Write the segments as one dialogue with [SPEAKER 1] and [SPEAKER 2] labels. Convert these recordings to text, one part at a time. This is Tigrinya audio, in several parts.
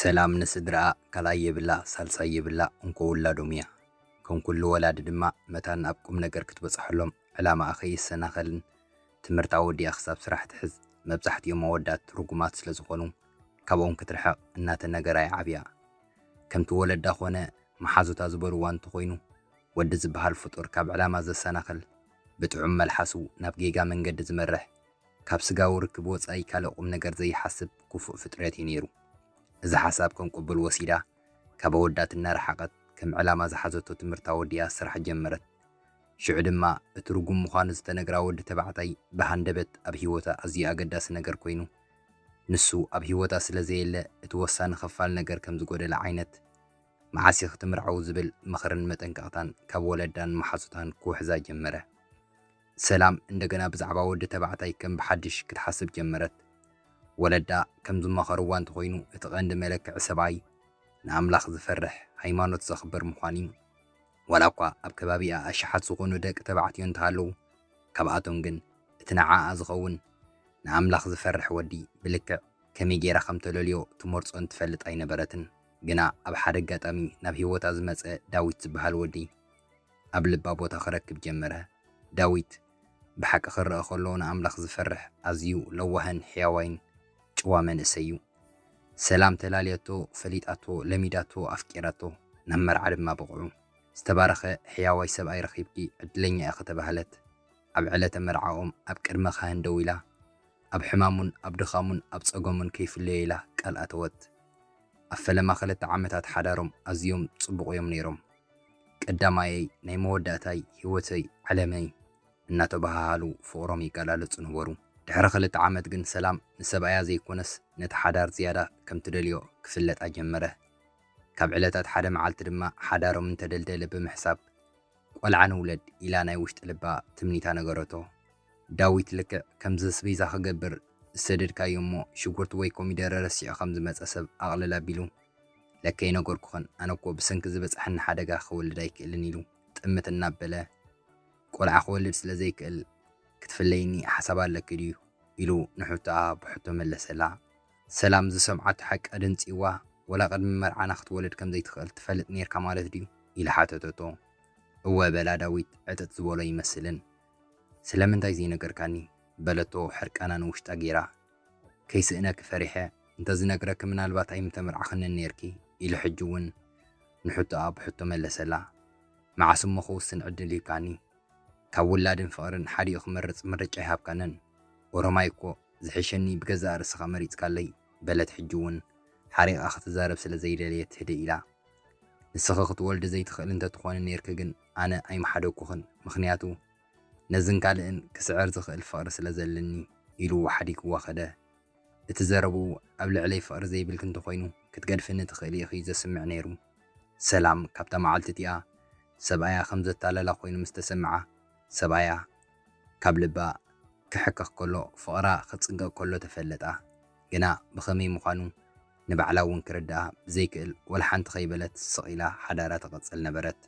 [SPEAKER 1] ሰላም ንስድርኣ ካልኣይ የብላ ሳልሳይ የብላ እንኮ ውላዶም እያ። ከም ኩሉ ወላዲ ድማ መታን ኣብ ቁም ነገር ክትበጽሐሎም ዕላማኣ ከይሰናኸልን ትምህርታ ወዲኣ ክሳብ ስራሕ ትሕዝ መብዛሕትኦም ኣወዳት ርጉማት ስለዝኾኑ ካብኦም ክትርሕቕ እናተነገራ እያ ዓብያ። ከምቲ ወለዳ ኮነ መሓዙታ ዝበልዋ እንተኾይኑ ወዲ ዝበሃል ፍጡር ካብ ዕላማ ዘሰናኽል፣ ብጥዑም መልሓሱ ናብ ጌጋ መንገዲ ዝመርሕ፣ ካብ ስጋዊ ርክብ ወጻኢ ካልእ ቁምነገር ዘይሓስብ ኩፉእ ፍጥረት እዩ ነይሩ። እዚ ሓሳብ ከም ቁቡል ወሲዳ ካብ ኣወዳት እናረሓቐት ከም ዕላማ ዝሓዘቶ ትምህርታ ወዲኣ ስራሕ ጀመረት። ሽዑ ድማ እቲ ርጉም ምዃኑ ዝተነግራ ወዲ ተባዕታይ ብሃንደበት ኣብ ህይወታ ኣዝዩ ኣገዳሲ ነገር ኮይኑ ንሱ ኣብ ሂወታ ስለ ዘየለ እቲ ወሳኒ ክፋል ነገር ከም ዝጎደለ ዓይነት መዓስ ኢኺ ትምርዓው ዝብል ምኽርን መጠንቀቕታን ካብ ወለዳን መሓዙታን ክውሕዛ ጀመረ። ሰላም እንደገና ብዛዕባ ወዲ ተባዕታይ ከም ብሓድሽ ክትሓስብ ጀመረት። ወለዳ ከም ዝመኸርዋ እንተኾይኑ እቲ ቀንዲ መለክዒ ሰብኣይ ንኣምላኽ ዝፈርሕ ሃይማኖት ዘኽብር ምዃን እዩ። ዋላኳ ኣብ ከባቢኣ ኣሽሓት ዝኾኑ ደቂ ተባዕትዮ እንተሃለዉ፣ ካብኣቶም ግን እቲ ንዓኣ ዝኸውን፣ ንኣምላኽ ዝፈርሕ ወዲ ብልክዕ ከመይ ገይራ ከም ተለልዮ ትመርጾን ትፈልጥ ኣይነበረትን። ግና ኣብ ሓደ ኣጋጣሚ ናብ ህይወታ ዝመጸ ዳዊት ዝበሃል ወዲ ኣብ ልባ ቦታ ክረክብ ጀመረ። ዳዊት። ብሓቂ ክርኣ ከሎ ንኣምላኽ ዝፈርሕ ኣዝዩ ለዋህን ሕያዋይን ጭዋ መንእሰይ እዩ። ሰላም ተላልያቶ፣ ፈሊጣቶ፣ ለሚዳቶ፣ ኣፍቂራቶ፣ ናብ መርዓ ድማ በቕዑ። ዝተባረኸ ሕያዋይ ሰብኣይ ረኺብኪ ዕድለኛ ኢኺ ተባህለት። ኣብ ዕለተ መርዓኦም ኣብ ቅድመ ካህን ደው ኢላ ኣብ ሕማሙን ኣብ ድኻሙን ኣብ ጸገሙን ከይፍለዮ ኢላ ቃል ኣተወት። ኣብ ፈለማ ክልተ ዓመታት ሓዳሮም ኣዝዮም ጽቡቕ እዮም ነይሮም። ቀዳማየይ ናይ መወዳእታይ ሂወተይ ዓለመይ እናተበሃሃሉ ፍቕሮም ይገላለጹ ነበሩ። ድሕሪ ክልተ ዓመት ግን ሰላም ንሰብኣያ ዘይኮነስ ነቲ ሓዳር ዝያዳ ከም ትደልዮ ክፍለጣ ጀመረ። ካብ ዕለታት ሓደ መዓልቲ ድማ ሓዳሮም እንተደልደለ ብምሕሳብ ቆልዓ ንውለድ ኢላ ናይ ውሽጢ ልባ ትምኒታ ነገረቶ። ዳዊት ልክዕ ከምዚ ኣስቤዛ ክገብር ዝሰደድካዮ እሞ ሽጉርቲ ወይ ኮሚደረ ረሲዑ ከም ዝመጸ ሰብ ኣቕልል ኣቢሉ ለከ ኣይነገርኩኽን፣ ኣነ እኮ ብሰንኪ ዝበጽሓኒ ሓደጋ ክወልድ ኣይክእልን ኢሉ ጥምት እናበለ፣ ቆልዓ ክወልድ ስለ ዘይክእል ክትፍለይኒ ሓሳብ ኣለኪ ድዩ? ኢሉ ንሕቶኣ ብሕቶ መለሰላ። ሰላም ዝሰምዓቶ ሓቂ ኣደንጽዩዋ፣ ወላ ቅድሚ መርዓና ክትወልድ ከም ዘይትኽእል ትፈልጥ ኔርካ ማለት ድዩ? ኢላ ሓተተቶ። እወ በላ ዳዊት ዕጥጥ ዝበሎ ይመስልን። ስለምንታይ ዘይነገርካኒ? በለቶ ሕርቃና ንውሽጣ ገይራ። ከይስእነኪ ፈሪሐ እንተዝነግረኪ ምናልባት ኣይምተመርዓኽንን ኔርኪ ኢሉ ሕጂ ውን ንሕቶኣ ብሕቶ መለሰላ መዓስ እሞ ክውስን ዕድል ሂብካኒ ካብ ውላድን ፍቕርን ሓዲኡ ክመርጽ ምርጫ ኣይሃብካንን ኦሮማይ እኮ ዝሕሸኒ ብገዛእ ርእስኻ መሪጽካለይ በለት ሕጂ ውን ሓሪቓ ክትዛረብ ስለ ዘይደለየት ህድእ ኢላ ንስኺ ክትወልዲ ዘይትኽእሊ እንተትኾኒ ኔርኪ ግን ኣነ ኣይምሓደግኩኽን ምኽንያቱ ነዝን ካልእን ክስዕር ዝኽእል ፍቕሪ ስለ ዘለኒ ኢሉ ሓዲግዋ ከደ። እቲ ዘረብኡ ኣብ ልዕለይ ፍቕሪ ዘይብልኪ እንተኾይኑ ክትገድፍኒ ትኽእሊ ኢኺ'ዩ ዘስምዕ ነይሩ። ሰላም ካብታ መዓልቲ እቲኣ ሰብኣያ ከም ዘታለላ ኮይኑ ምስ ተሰምዓ ሰብኣያ ካብ ልባ ክሕከኽ ከሎ ፍቕራ ክጽገ ከሎ ተፈለጣ። ግና ብኸመይ ምዃኑ ንባዕላ'ውን ክርድኣ ብዘይክእል ወላሓንቲ ከይበለት ስቕ ኢላ ሓዳራ ትቕጽል ነበረት።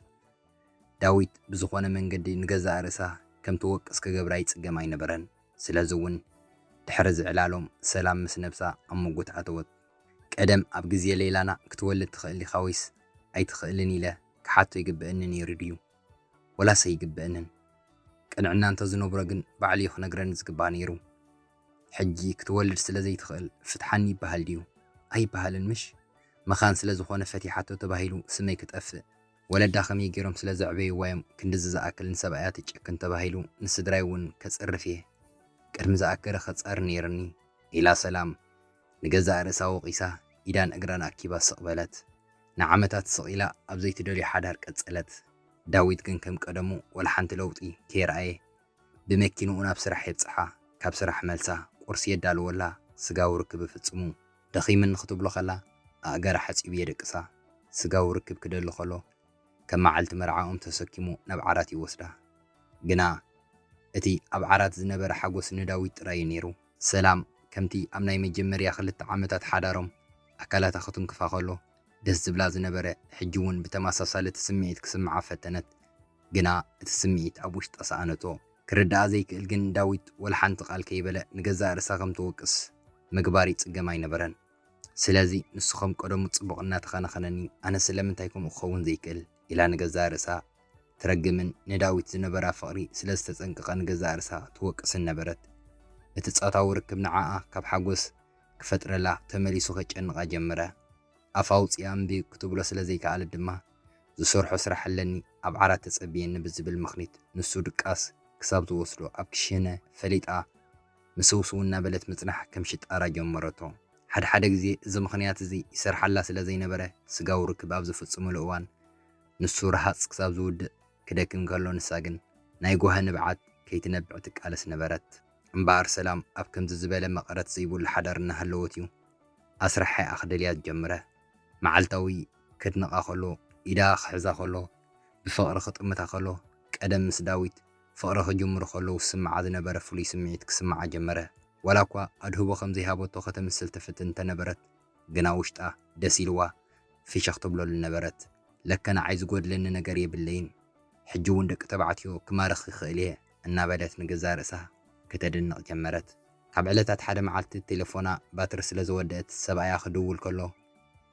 [SPEAKER 1] ዳዊት ብዝኾነ መንገዲ ንገዛእ ርእሳ ከም ትወቅስ ክገብራ ይጽገም ኣይነበረን። ስለዚ እውን ድሕሪ እዚ ዕላሎም ሰላም ምስ ነብሳ ኣብ ምጉት ኣተወት። ቀደም ኣብ ግዜ ለይላና ክትወልድ ትኽእል ዲኻ ወይስ ኣይትኽእልን ኢለ ክሓቶ ይግበእኒ ነይሩ ድዩ? ወላስ ኣይግበእንን? ቅንዕና እንተ ዝነብሮ ግን ባዕሉ እዩ ክነግረኒ ዝግባእ ነይሩ። ሕጂ ክትወልድ ስለ ዘይትኽእል ፍትሓኒ ይበሃል ድዩ? ኣይበሃልን ምሽ? መኻን ስለ ዝኾነ ፈቲሓቶ ተባሂሉ ስመይ ክጠፍእ? ወለዳ ከመይ ጌሮም ስለ ዘዕበይዋ ዮም ክንድዚ ዝኣክል ንሰብኣያ ትጭክን ተባሂሉ ንስድራይ ውን ከጽርፍ እየ ቅድሚ ዝኣከለ ከጻሪ ኔርኒ። ኢላ ሰላም ንገዛእ ርእሳ ወቒሳ ኢዳን እግራን ኣኪባ ስቕ በለት። ንዓመታት ስቕ ኢላ ኣብ ዘይትደልዮ ሓዳር ቀጸለት። ዳዊት ግን ከም ቀደሙ ወላ ሓንቲ ለውጢ ከየርኣየ ብመኪንኡ ናብ ስራሕ የብጽሓ። ካብ ስራሕ መልሳ ቁርሲ የዳልወላ፣ ስጋዊ ርክብ እፍጽሙ። ደኺምኒ ክትብሎ ከላ ኣእጋራ ሓጺቡ የደቅሳ። ስጋዊ ርክብ ክደሊ ከሎ ከም መዓልቲ መርዓኦም ተሰኪሙ ናብ ዓራት ይወስዳ። ግና እቲ ኣብ ዓራት ዝነበረ ሓጎስ ንዳዊት ጥራይ'ዩ ነይሩ። ሰላም ከምቲ ኣብ ናይ መጀመርያ ክልተ ዓመታት ሓዳሮም ኣካላታ ክትንክፋ ከሎ ደስ ዝብላ ዝነበረ ሕጂ ውን ብተማሳሳሊ እቲ ስምዒት ክስምዓ ፈተነት ግና እቲ ስምዒት ኣብ ውሽጣ ሰኣነቶ ክርድኣ ዘይክእል ግን ዳዊት ወላሓንቲ ቃል ከይበለ ንገዛእ ርእሳ ከም ትወቅስ ምግባር ይጽገም ኣይነበረን ስለዚ ንሱ ከም ቀደሙ ጽቡቕ እናተኸናኸነኒ ኣነ ስለምንታይ ከምኡ ክኸውን ዘይክእል ኢላ ንገዛእ ርእሳ ትረግምን ንዳዊት ዝነበራ ፍቕሪ ስለ ዝተጸንቀቐ ንገዛእ ርእሳ ትወቅስን ነበረት እቲ ጾታዊ ርክብ ንዓኣ ካብ ሓጎስ ክፈጥረላ ተመሊሱ ከጨንቓ ጀመረ። ኣፍ ኣውጺኣ እምቢ ክትብሎ ስለ ዘይከኣለት ድማ፣ ዝሰርሖ ስራሕ ኣለኒ ኣብ ዓራት ተጸብየኒ ብዝብል ምኽኒት ንሱ ድቃስ ክሳብ ዝወስዶ ኣብ ክሽነ ፈሊጣ ምስውስው እናበለት ምጽናሕ ከም ሽጣራ ጀመረቶ። ሓድሓደ ግዜ እዚ ምኽንያት እዚ ይሰርሓላ ስለ ዘይነበረ፣ ስጋዊ ርክብ ኣብ ዝፍጽሙሉ እዋን ንሱ ረሃጽ ክሳብ ዝውድእ ክደክም ከሎ ንሳ ግን ናይ ጓሂ ንብዓት ከይትነብዕ ትቃለስ ነበረት። እምበኣር ሰላም ኣብ ከምዚ ዝበለ መቐረት ዘይብሉ ሓዳር እናሃለወት እዩ ኣስራሒኣ ክደልያ ዝጀምረ። መዓልታዊ ከድንቓ ከሎ፣ ኢዳ ክሕዛ ከሎ፣ ብፍቕሪ ክጥምታ ከሎ፣ ቀደም ምስ ዳዊት ፍቕሪ ክጅምሩ ከለዉ ዝስምዓ ዝነበረ ፍሉይ ስምዒት ክስምዓ ጀመረ። ዋላ እኳ ኣድህቦ ከም ዘይሃበቶ ከተምስል ትፍትን እንተ ነበረት ግና ውሽጣ ደስ ኢልዋ ፍሽኽ ትብለሉ ነበረት። ለከ ንዓይ ዝጎድለኒ ነገር የብለይን። ሕጂ እውን ደቂ ተባዕትዮ ክማርኽ ይኽእል እየ። እናበለት ንገዛእ ርእሳ ከተድንቕ ጀመረት። ካብ ዕለታት ሓደ መዓልቲ ቴለፎና ባትሪ ስለ ዝወደኣት ሰብኣያ ክድውል ከሎ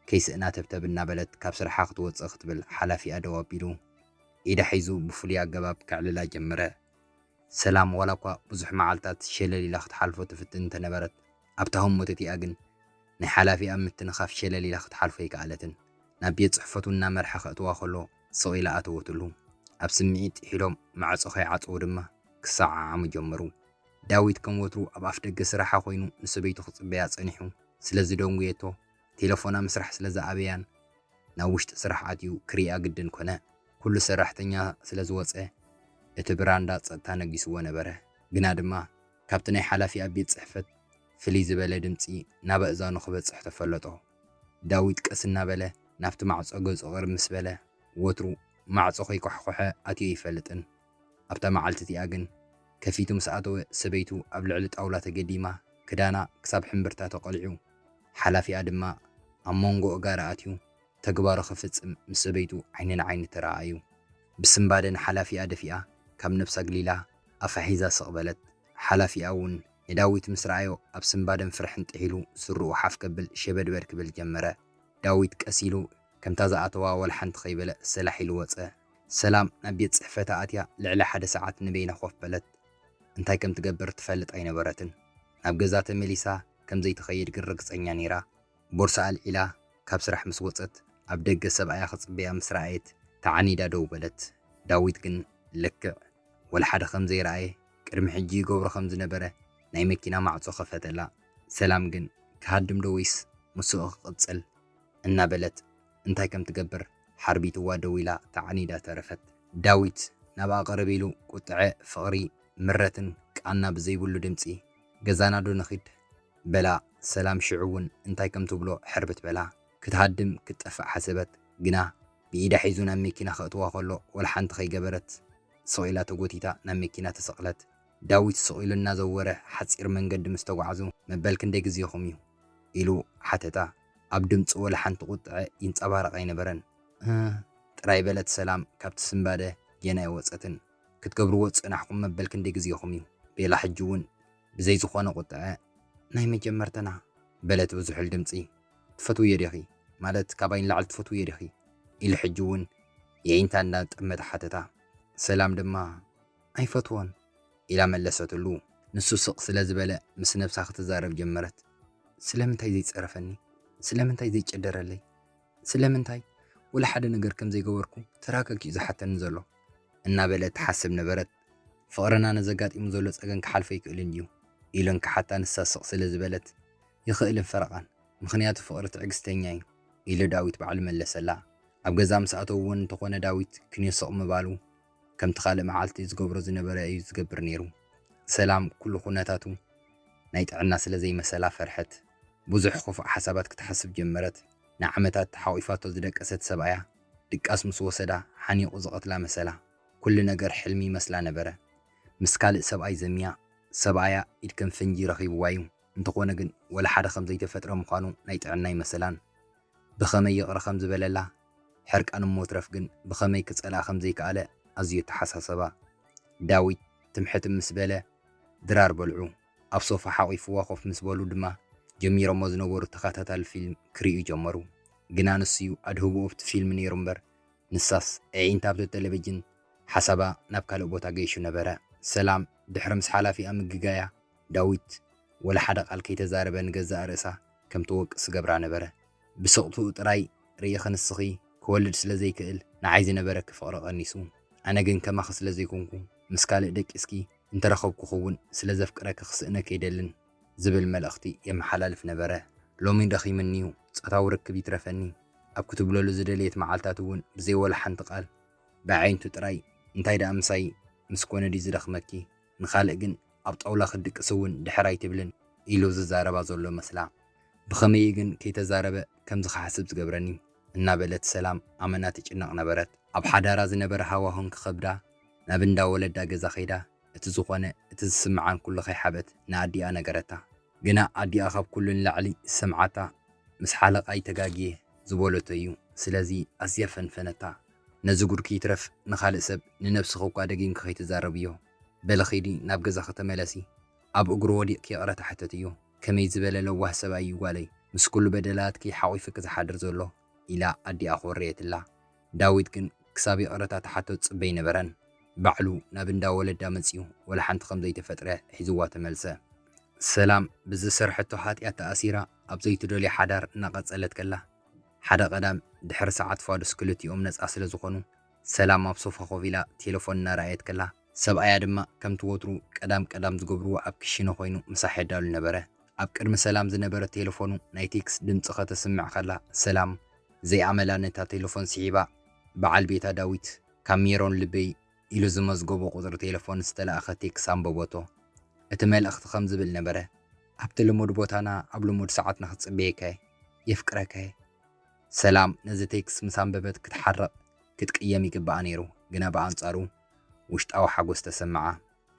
[SPEAKER 1] ከይስእና ተብተብ እናበለት ካብ ስርሓ ክትወጽእ ክትብል ሓላፊኣ ደው ኣቢሉ ኢዳ ሒዙ ብፍሉይ ኣገባብ ከዕልላ ጀመረ። ሰላም ዋላኳ ብዙሕ መዓልታት ሸለል ኢላ ክትሓልፎ ትፍትን እንተነበረት ኣብታ ህሞት'ቲኣ ግን ናይ ሓላፊኣ ምትንኻፍ ሸለል ኢላ ክትሓልፎ ኣይከኣለትን። ናብ ቤት ጽሕፈቱ እናመርሐ ከእትዋ ከሎ፣ ስቕ ኢላ ኣተወትሉ። ኣብ ስምዒት ጥሒሎም ማዕጾ ከይዓጸዉ ድማ ክሰዓዓሙ ጀመሩ። ዳዊት ከም ወትሩ ኣብ ኣፍደገ ስራሓ ኮይኑ ንሰበይቱ ክጽበያ ጸኒሑ ስለ ዝደንጉየቶ ቴለፎና ምስራሕ ስለ ዝኣበያን ናብ ውሽጢ ስራሕ ኣትዩ ክርእያ ግድን ኮነ። ኩሉ ሰራሕተኛ ስለ ዝወጸ እቲ ብራንዳ ጸጥታ ነጊስዎ ነበረ። ግና ድማ ካብቲ ናይ ሓላፊኣ ቤት ጽሕፈት ፍልይ ዝበለ ድምጺ ናብ ኣእዛኑ ክበጽሕ ተፈለጦ። ዳዊት ቀስ እናበለ ናብቲ ማዕጾ ገጹ ቅርብ ምስ በለ፣ ወትሩ ማዕጾ ከይኳሕኮሐ ኣትዩ ኣይፈልጥን። ኣብታ መዓልቲ እቲኣ ግን ከፊቱ ምስ ኣተወ ሰበይቱ ኣብ ልዕሊ ጣውላ ተገዲማ ክዳና ክሳብ ሕምብርታ ተቐሊዑ፣ ሓላፊኣ ድማ ኣብ ሞንጎ እጋራ ኣትዩ ተግባሩ ክፍጽም ምስ ሰበይቱ ዓይኒ ንዓይኒ ተረኣኣዩ። ብስንባደ ንሓላፊኣ ደፊኣ ካብ ነብሳ ኣግሊላ ኣፋ ሒዛ ስቕ በለት። ሓላፊኣ እውን ንዳዊት ምስ ረኣዮ ኣብ ስንባደን ፍርሕን ጥሒሉ ስሩኡ ሓፍ ከብል ሸበድበድ ክብል ጀመረ። ዳዊት ቀስ ኢሉ ከምታ ዝኣተዋ ወላ ሓንቲ ከይበለ ሰላሕ ኢሉ ወጸ። ሰላም ናብ ቤት ጽሕፈታ ኣትያ ልዕሊ ሓደ ሰዓት ንበይና ኮፍ በለት። እንታይ ከም ትገብር ትፈልጥ ኣይነበረትን። ናብ ገዛ ተመሊሳ ከም ዘይትኸይድ ግን ርግጸኛ ነይራ። ቦርሳ ኣልዒላ ካብ ስራሕ ምስ ወጸት ኣብ ደገ ሰብኣያ ክጽበያ ምስ ረኣየት ተዓኒዳ ደው በለት። ዳዊት ግን ልክዕ ወላ ሓደ ከም ዘይረኣየ ቅድሚ ሕጂ ይገብሮ ከም ዝነበረ ናይ መኪና ማዕጾ ከፈተላ። ሰላም ግን ክሃድም ዶ ወይስ ምስኡ ክቕጽል እናበለት እንታይ ከም ትገብር ሓርቢትዋ ደዊላ ተዓኒዳ ተረፈት። ዳዊት ናብኣ ቅርብ ኢሉ ቁጥዐ፣ ፍቕሪ፣ ምረትን ቃና ብዘይብሉ ድምጺ፣ ገዛና ዶ ንኺድ? በላ። ሰላም ሽዑ'ውን እንታይ ከም ትብሎ ሕርብት በላ። ክትሃድም ክትጠፍእ ሓሰበት ግና ብኢዳ ሒዙ ናብ መኪና ከእትዋ ከሎ ወላሓንቲ ከይገበረት ስቕ ኢላ ተጎቲታ ናብ መኪና ተሰቕለት። ዳዊት ስቕ ኢሉ እናዘወረ ሓጺር መንገዲ ምስ ተጓዕዙ መበል ክንደይ ግዜኹም እዩ? ኢሉ ሓተታ። ኣብ ድምጹ ወላሓንቲ ቁጥዐ ይንጸባረቕ ኣይነበረን። እህ ጥራይ በለት ሰላም ካብቲ ስንባደ ጌና ኣይወጸትን። ክትገብርዎ ዝጸናሕኩም መበል ክንደይ ግዜኹም እዩ? ቤላ ሕጂ'ውን ብዘይ ዝኾነ ቁጥዐ፣ ናይ መጀመርተና! በለት ብዝሑል ድምጺ። ትፈትውዮ ዲኺ? ማለት ካባይ ንላዕሊ ትፈትውዮ ዲኺ? ኢሉ ሕጂ እውን የዒንታ እንዳ ጠመተ ሓተታ። ሰላም ድማ፣ ኣይፈትዎን! ኢላ መለሰትሉ። ንሱ ስቕ ስለ ዝበለ ምስ ነብሳ ክትዛረብ ጀመረት። ስለምንታይ ዘይጸረፈኒ? ስለምንታይ ዘይጨደረለይ? ስለምንታይ ወላ ሓደ ነገር ከም ዘይገበርኩ ተራገጊኡ ዝሓተኒ ዘሎ? እናበለት ትሓስብ ነበረት። ፍቕርና ነዚ ኣጋጢሙ ዘሎ ጸገም ክሓልፎ ኣይክእልን እዩ ኢለን ክሓታ ንሳ ስቕ ስለ ዝበለት ይኽእልን ፈረቓን ምኽንያቱ ፍቕሪ ትዕግስተኛ እዩ ኢሉ ዳዊት ባዕሉ መለሰላ። ኣብ ገዛ ምስ ኣተዉ እውን እንተኾነ ዳዊት ክንዮ ስቕ ምባሉ ከምቲ ካልእ መዓልቲ ዝገብሮ ዝነበረ እዩ ዝገብር ነይሩ። ሰላም ኩሉ ኩነታቱ ናይ ጥዕና ስለ ዘይመሰላ ፈርሐት። ብዙሕ ክፉእ ሓሳባት ክትሓስብ ጀመረት። ንዓመታት ሓቝፋቶ ዝደቀሰት ሰብኣያ ድቃስ ምስ ወሰዳ ሓኒቑ ዝቐትላ መሰላ። ኩሉ ነገር ሕልሚ ይመስላ ነበረ። ምስ ካልእ ሰብኣይ ዘምያ፣ ሰብኣያ ኢድ ከም ፈንጂ ረኺብዋ'ዩ፣ እንተኾነ ግን ወላ ሓደ ከም ዘይተፈጥረ ምዃኑ ናይ ጥዕና ኣይመሰላን። ብኸመይ ይቕረ ከም ዝበለላ፣ ሕርቃን እሞ ትረፍ ግን ብኸመይ ክጸልኣ ከም ዘይከኣለ ኣዝዩ ኣተሓሳሰባ። ዳዊት ትም ሕትም ምስ በለ፣ ድራር በልዑ። ኣብ ሶፋ ሓቚፍዋ ኮፍ ምስ በሉ ድማ ጀሚሮሞ ዝነበሩ ተኸታታሊ ፊልም ክርእዩ ጀመሩ። ግና ንሱ'ዩ ኣድህቦ ኣብቲ ፊልም ነይሩ'ምበር፣ ንሳስ ኣዒንታ ኣብቲ ተለቪጅን ሓሳባ ናብ ካልእ ቦታ ገይሹ ነበረ። ሰላም ድሕሪ ምስ ሓላፊኣ ምግጋያ፣ ዳዊት ወላ ሓደ ቃል ከይተዛረበ ንገዛእ ርእሳ ከም ትወቅስ ዝገብራ ነበረ። ብስቕትኡ ጥራይ ርኢኺ ንስኺ ክወልድ ስለ ዘይክእል ንዓይ ዝነበረኪ ፍቕሪ ቀኒሱ። ኣነ ግን ከማኺ ስለ ዘይኮንኩ ምስ ካልእ ደቂስኪ እንተረኸብኩኺ'ውን ስለ ዘፍቅረኪ ክስእነኪ ኣይደልን። ዝብል መልእኽቲ የመሓላልፍ ነበረ። ሎሚ ደኺምኒ'ዩ፣ ጾታዊ ርክብ ይትረፈኒ ኣብ ክትብለሉ ዝደለየት መዓልታት'ውን ብዘይ ወላ ሓንቲ ቃል ብኣዒንቱ ጥራይ እንታይ ደኣ ምሳይ ምስ ኮነ ድዩ ዝደኽመኪ፣ ንኻልእ ግን ኣብ ጣውላ ክትድቅስ'ውን ድሕር ኣይትብልን ኢሉ ዝዛረባ ዘሎ መስላ። ብኸመይ'ዩ ግን ከይተዛረበ ከምዚ ክሓስብ ዝገብረኒ? እናበለት ሰላም ኣመና ትጭነቕ ነበረት። ኣብ ሓዳራ ዝነበረ ሃዋሁ እንክኸብዳ ናብ እንዳ ወለዳ ገዛ ከይዳ እቲ ዝኾነ እቲ ዝስምዓን ኩሉ ከይሓበት ንኣዲኣ ነገረታ። ግና ኣዲኣ ካብ ኩሉ ንላዕሊ ዝሰምዓታ ምስ ሓለቓይ ተጋግየ ዝበለቶ እዩ። ስለዚ ኣዝያ ፈንፈነታ። ነዚ ጉድኪ ይትረፍ ንኻልእ ሰብ ንነብስኺ እኳ ደጊምኪ ከይትዛረብዮ። በሊ ኺዲ ናብ ገዛኺ ተመለሲ። ኣብ እግሩ ወዲቕኪ ይቕረታ ሕተትዮ። ከመይ ዝበለ ለዋህ ሰብኣይ እዩ ጓለይ ምስ ኩሉ በደላትኪ ሓቚፍኪ ዝሓድር ዘሎ ኢላ ኣዲኣ ኮረየትላ። ዳዊት ግን ክሳብ ይቕረታ ትሓቶ ዝጽበ ኣይነበረን። ባዕሉ ናብ እንዳ ወለዳ መጺኡ ወላ ሓንቲ ከም ዘይተፈጥረ ሒዝዋ ተመልሰ። ሰላም ብዝሰርሐቶ ሓጥያት ተኣሲራ ኣብ ዘይትደልዮ ሓዳር እናቐጸለት ከላ፣ ሓደ ቀዳም ድሕሪ ሰዓት ፋዱስ ክልቲኦም ነጻ ስለ ዝኾኑ፣ ሰላም ኣብ ሶፋ ኮፍ ኢላ ቴለፎን እናረኣየት ከላ፣ ሰብኣያ ድማ ከምቲ ወትሩ ቀዳም ቀዳም ዝገብርዎ ኣብ ክሽነ ኮይኑ ምሳሕ የዳሉ ነበረ። ኣብ ቅድሚ ሰላም ዝነበረ ቴለፎኑ ናይ ቴክስ ድምጺ ከተስምዕ ከላ ሰላም ዘይኣመላ ነታ ቴለፎን ስሒባ በዓል ቤታ ዳዊት ካብ ሜሮን ልበይ ኢሉ ዝመዝገቦ ቁጽሪ ቴለፎን ዝተላእከ ቴክስ ኣንበበቶ። እቲ መልእኽቲ ከም ዝብል ነበረ። ኣብቲ ልሙድ ቦታና ኣብ ልሙድ ሰዓት ንክጽበየካ እየ። የፍቅረካ እየ። ሰላም ነዚ ቴክስ ምስ ኣንበበት ክትሓርቕ ክትቅየም ይግብኣ ነይሩ ግና ብኣንጻሩ። ውሽጣዊ ሓጎስ ተሰመዓ።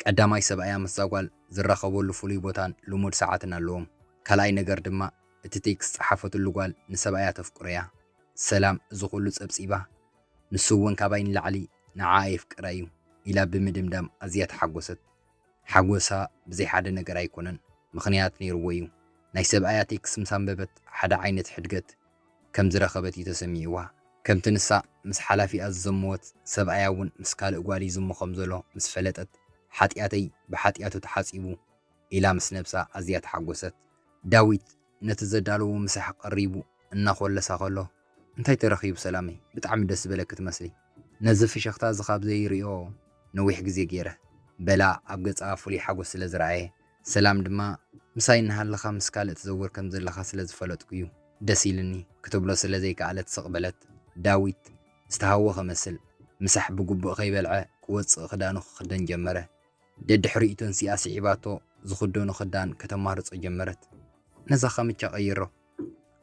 [SPEAKER 1] ቀዳማይ ሰብኣያ ምስዛ ጓል ዝራኸበሉ ፍሉይ ቦታን ልሙድ ሰዓትን ኣለዎም። ካልኣይ ነገር ድማ እቲ ቴክስት ዝጸሓፈትሉ ጓል ንሰብኣያ ተፍቅሮ'ያ። ሰላም እዚ ኩሉ ጸብጺባ፣ ንሱ'ውን ካባይ ንላዕሊ ንዓኣ የፍቅራ'ዩ ኢላ ብምድምዳም ኣዝያ ተሓጎሰት። ሓጎሳ ብዘይ ሓደ ነገር ኣይኮነን ምኽንያት ነይርዎ እዩ። ናይ ሰብኣያ ቴክስ ምስ ኣንበበት ሓደ ዓይነት ሕድገት ከም ዝረኸበት እዩ ተሰሚዕዋ። ከምቲ ንሳ ምስ ሓላፊኣ ዝዘመወት ሰብኣያ እውን ምስ ካልእ ጓል ይዝሙ ከም ዘሎ ምስ ፈለጠት ሓጥያተይ ብሓጥያቱ ተሓጺቡ ኢላ ምስ ነብሳ ኣዝያ ተሓጎሰት። ዳዊት ነቲ ዘዳለዎ ምሳሕ ቀሪቡ እናኾለሳ ከሎ እንታይ ተረኺቡ ሰላመይ ብጣዕሚ ደስ ዝበለኪ ትመስሊ ነዚ ፍሽኽታ እዚ ካብ ዘይሪኦ ነዊሕ ግዜ ጌረ በላ ኣብ ገጻ ፍሉይ ሓጎስ ስለ ዝረኣየ ሰላም ድማ ምሳይ እናሃለኻ ምስ ካልእ ትዘውር ከም ዘለኻ ስለ ዝፈለጥኩ'ዩ ደስ ኢልኒ ክትብሎ ስለ ዘይከኣለት ስቕ በለት ዳዊት ዝተሃወኸ መስል ምሳሕ ብግቡእ ከይበልዐ ክወጽእ ክዳኑ ክኽደን ጀመረ ደድሕሪኡ ተንሲኣ ስዒባቶ ዝኽደኖ ክዳን ከተማርጾ ጀመረት። ነዛ ካምቻ ቀይሮ።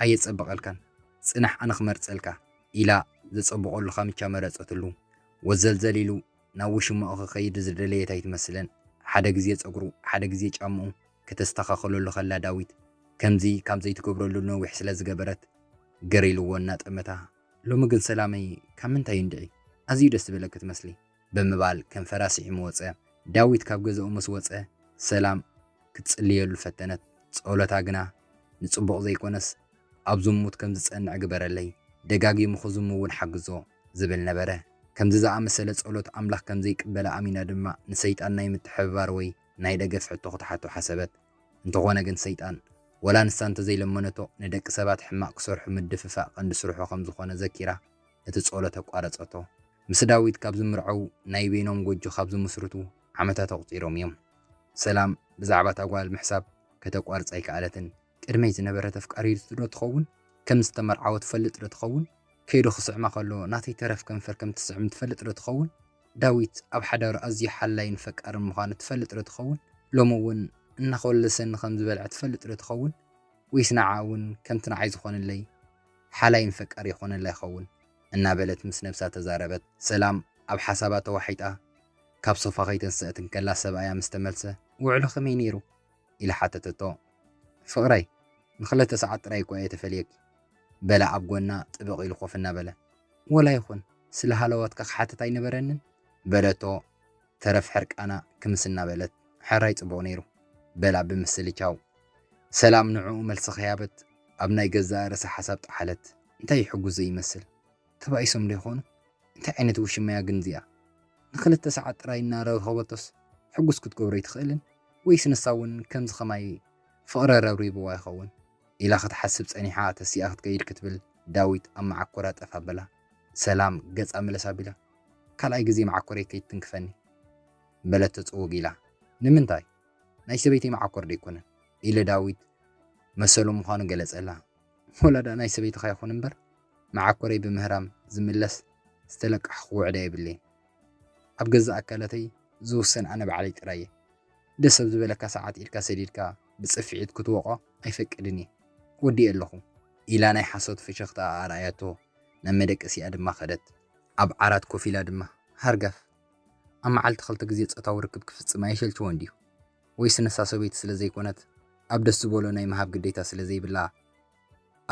[SPEAKER 1] ኣየጸበቐልካን። ጽናሕ ኣነ ክመርጸልካ። ኢላ ዘጸብቐሉ ካምቻ መረጸትሉ። ወዘልዘል ኢሉ ናብ ውሽማኡ ክኸይድ ዝደለየት ኣይትመስልን። ሓደ ግዜ ጸጉሩ ሓደ ግዜ ጫምኡ ከተስተኻኽለሉ ከላ ዳዊት ከምዚ ካብ ዘይትገብረሉ ነዊሕ ስለ ዝገበረት ግር ኢልዎ እናጠመታ ሎሚ ግን ሰላመይ ካብ ምንታይ እንድዒ ኣዝዩ ደስ ዝበለኪ ትመስሊ። ብምባል ከንፈራ ስዒሙ ወጸ። ዳዊት ካብ ገዛኡ ምስ ወጸ ሰላም ክትጽልየሉ ፈተነት። ጸሎታ ግና ንጽቡቕ ዘይኮነስ ኣብ ዝሙት ከም ዝጸንዕ ግበረለይ፣ ደጋጊሙ ክዝሙ እውን ሓግዞ ዝብል ነበረ። ከምዚ ዝኣመሰለ ጸሎት ኣምላኽ ከም ዘይቅበላ ኣሚና ድማ ንሰይጣን ናይ ምትሕብባር ወይ ናይ ደገፍ ሕቶ ክትሓቶ ሓሰበት። እንተኾነ ግን ሰይጣን ወላ ንሳ እንተዘይለመነቶ ንደቂ ሰባት ሕማቕ ክሰርሑ ምድፍፋእ ቀንዲ ስርሑ ከም ዝኾነ ዘኪራ፣ እቲ ጸሎት ኣቋረጸቶ። ምስ ዳዊት ካብ ዝምርዐው ናይ በይኖም ጎጆ ካብ ዝምስርቱ ዓመታት ኣቑጺሮም እዮም። ሰላም ብዛዕባ እታ ጓል ምሕሳብ ከተቋርጽ ኣይከኣለትን። ቅድመይ ዝነበረት ኣፍቃሪቱ'ዶ ትኸውን? ከም ዝተመርዓወ ትፈልጥ'ዶ ትኸውን? ከይዱ ክስዕማ ከሎ ናተይ ተረፍ ከንፈር ከም እትስዕም ትፈልጥ'ዶ ትኸውን? ዳዊት ኣብ ሓዳሩ ኣዝዩ ሓላይን ፈቃርን ምዃኑ ትፈልጥ'ዶ ትኸውን? ሎሚ እውን እናኾለሰኒ ከም ዝበልዐ ትፈልጥ'ዶ ትኸውን? ወይስ ንዓኣ እውን ከምቲ ንዓይ ዝኾነለይ? ሓላይ ን ፈቃር ይኾነላ ይኸውን እናበለት ምስ ነብሳ ተዛረበት። ሰላም ኣብ ሓሳባ ተዋሒጣ ካብ ሶፋ ከይተንሰኣት እንከላ ሰብኣያ ምስ ተመልሰ ውዕሎ ከመይ ነይሩ? ኢላ ሓተተቶ። ፍቅረይ ንክለተ ሰዓት ጥራይ እኳ እየ ተፈልየኪ በላ ኣብ ጎና ጥብቅ ኢሉ ኮፍ እናበለ። ወላ ይኹን ስለ ሃለዋትካ ክሓትት ኣይነበረንን? በለቶ። ተረፍ ሕርቃና ክምስ እናበለት ሕራይ ጽቡቕ ነይሩ በላ ብምስልቻው። ሰላም ንዕኡ መልሲ ከይሃበት ኣብ ናይ ገዛኣ ርእሳ ሓሳብ ጠሓለት። እንታይ ይሕጉስ ዘይመስል? ተባኢሶም'ዶ ይኾኑ? እንታይ ዓይነት ውሽማ'ያ ግን እዚኣ? ንኽልተ ሰዓት ጥራይ እናረኸበቶስ ሕጉስ ክትገብሮ ኣይትኽእልን? ወይስ ንሳ'ውን ከምዚ ከማይ ፍቕሪ ረብሪቡዋ ይኸውን? ኢላ ክትሓስብ ጸኒሓ ተሲኣ ክትከይድ ክትብል ዳዊት ኣብ መዓኮራ ጠፍ ኣበላ። ሰላም ገጻ መለስ ኣቢላ፣ ካልኣይ ግዜ መዓኮረይ ከይትትንክፈኒ። በለቶ ጽውግ ኢላ። ንምንታይ? ናይ ሰበይተይ መዓኮር ዶ ኣይኮነን? ኢለ ዳዊት መሰሉ ምዃኑ ገለጸላ። ወላ ደኣ ናይ ሰበይትኻ ይኹን እምበር፣ መዓኮረይ ብምህራም ዝምለስ ዝተለቃሕኹዎ ዕዳ የብለይን። ኣብ ገዛእ ኣካላተይ ዝውሰን ኣነ ባዕለይ ጥራይ እየ። ደስ ኣብ ዝበለካ ሰዓት ኢድካ ሰዲድካ ብጽፍዒት ክትወቖ ኣይፈቅድን እየ። ወዲኤ ኣለኹ። ኢላ ናይ ሓሶት ፍሽኽታኣ ኣርኣያቶ። ናብ መደቀሲኣ ድማ ከደት። ኣብ ዓራት ኮፍ ኢላ ድማ ሃርጋፍ፣ ኣብ መዓልቲ ክልተ ግዜ ጾታዊ ርክብ ክፍጽም ኣይሸልችዎን ድዩ? ወይስ ንሳ ሰበይቲ ስለ ዘይኮነት ኣብ ደስ ዝበሎ ናይ ምሃብ ግዴታ ስለ ዘይብላ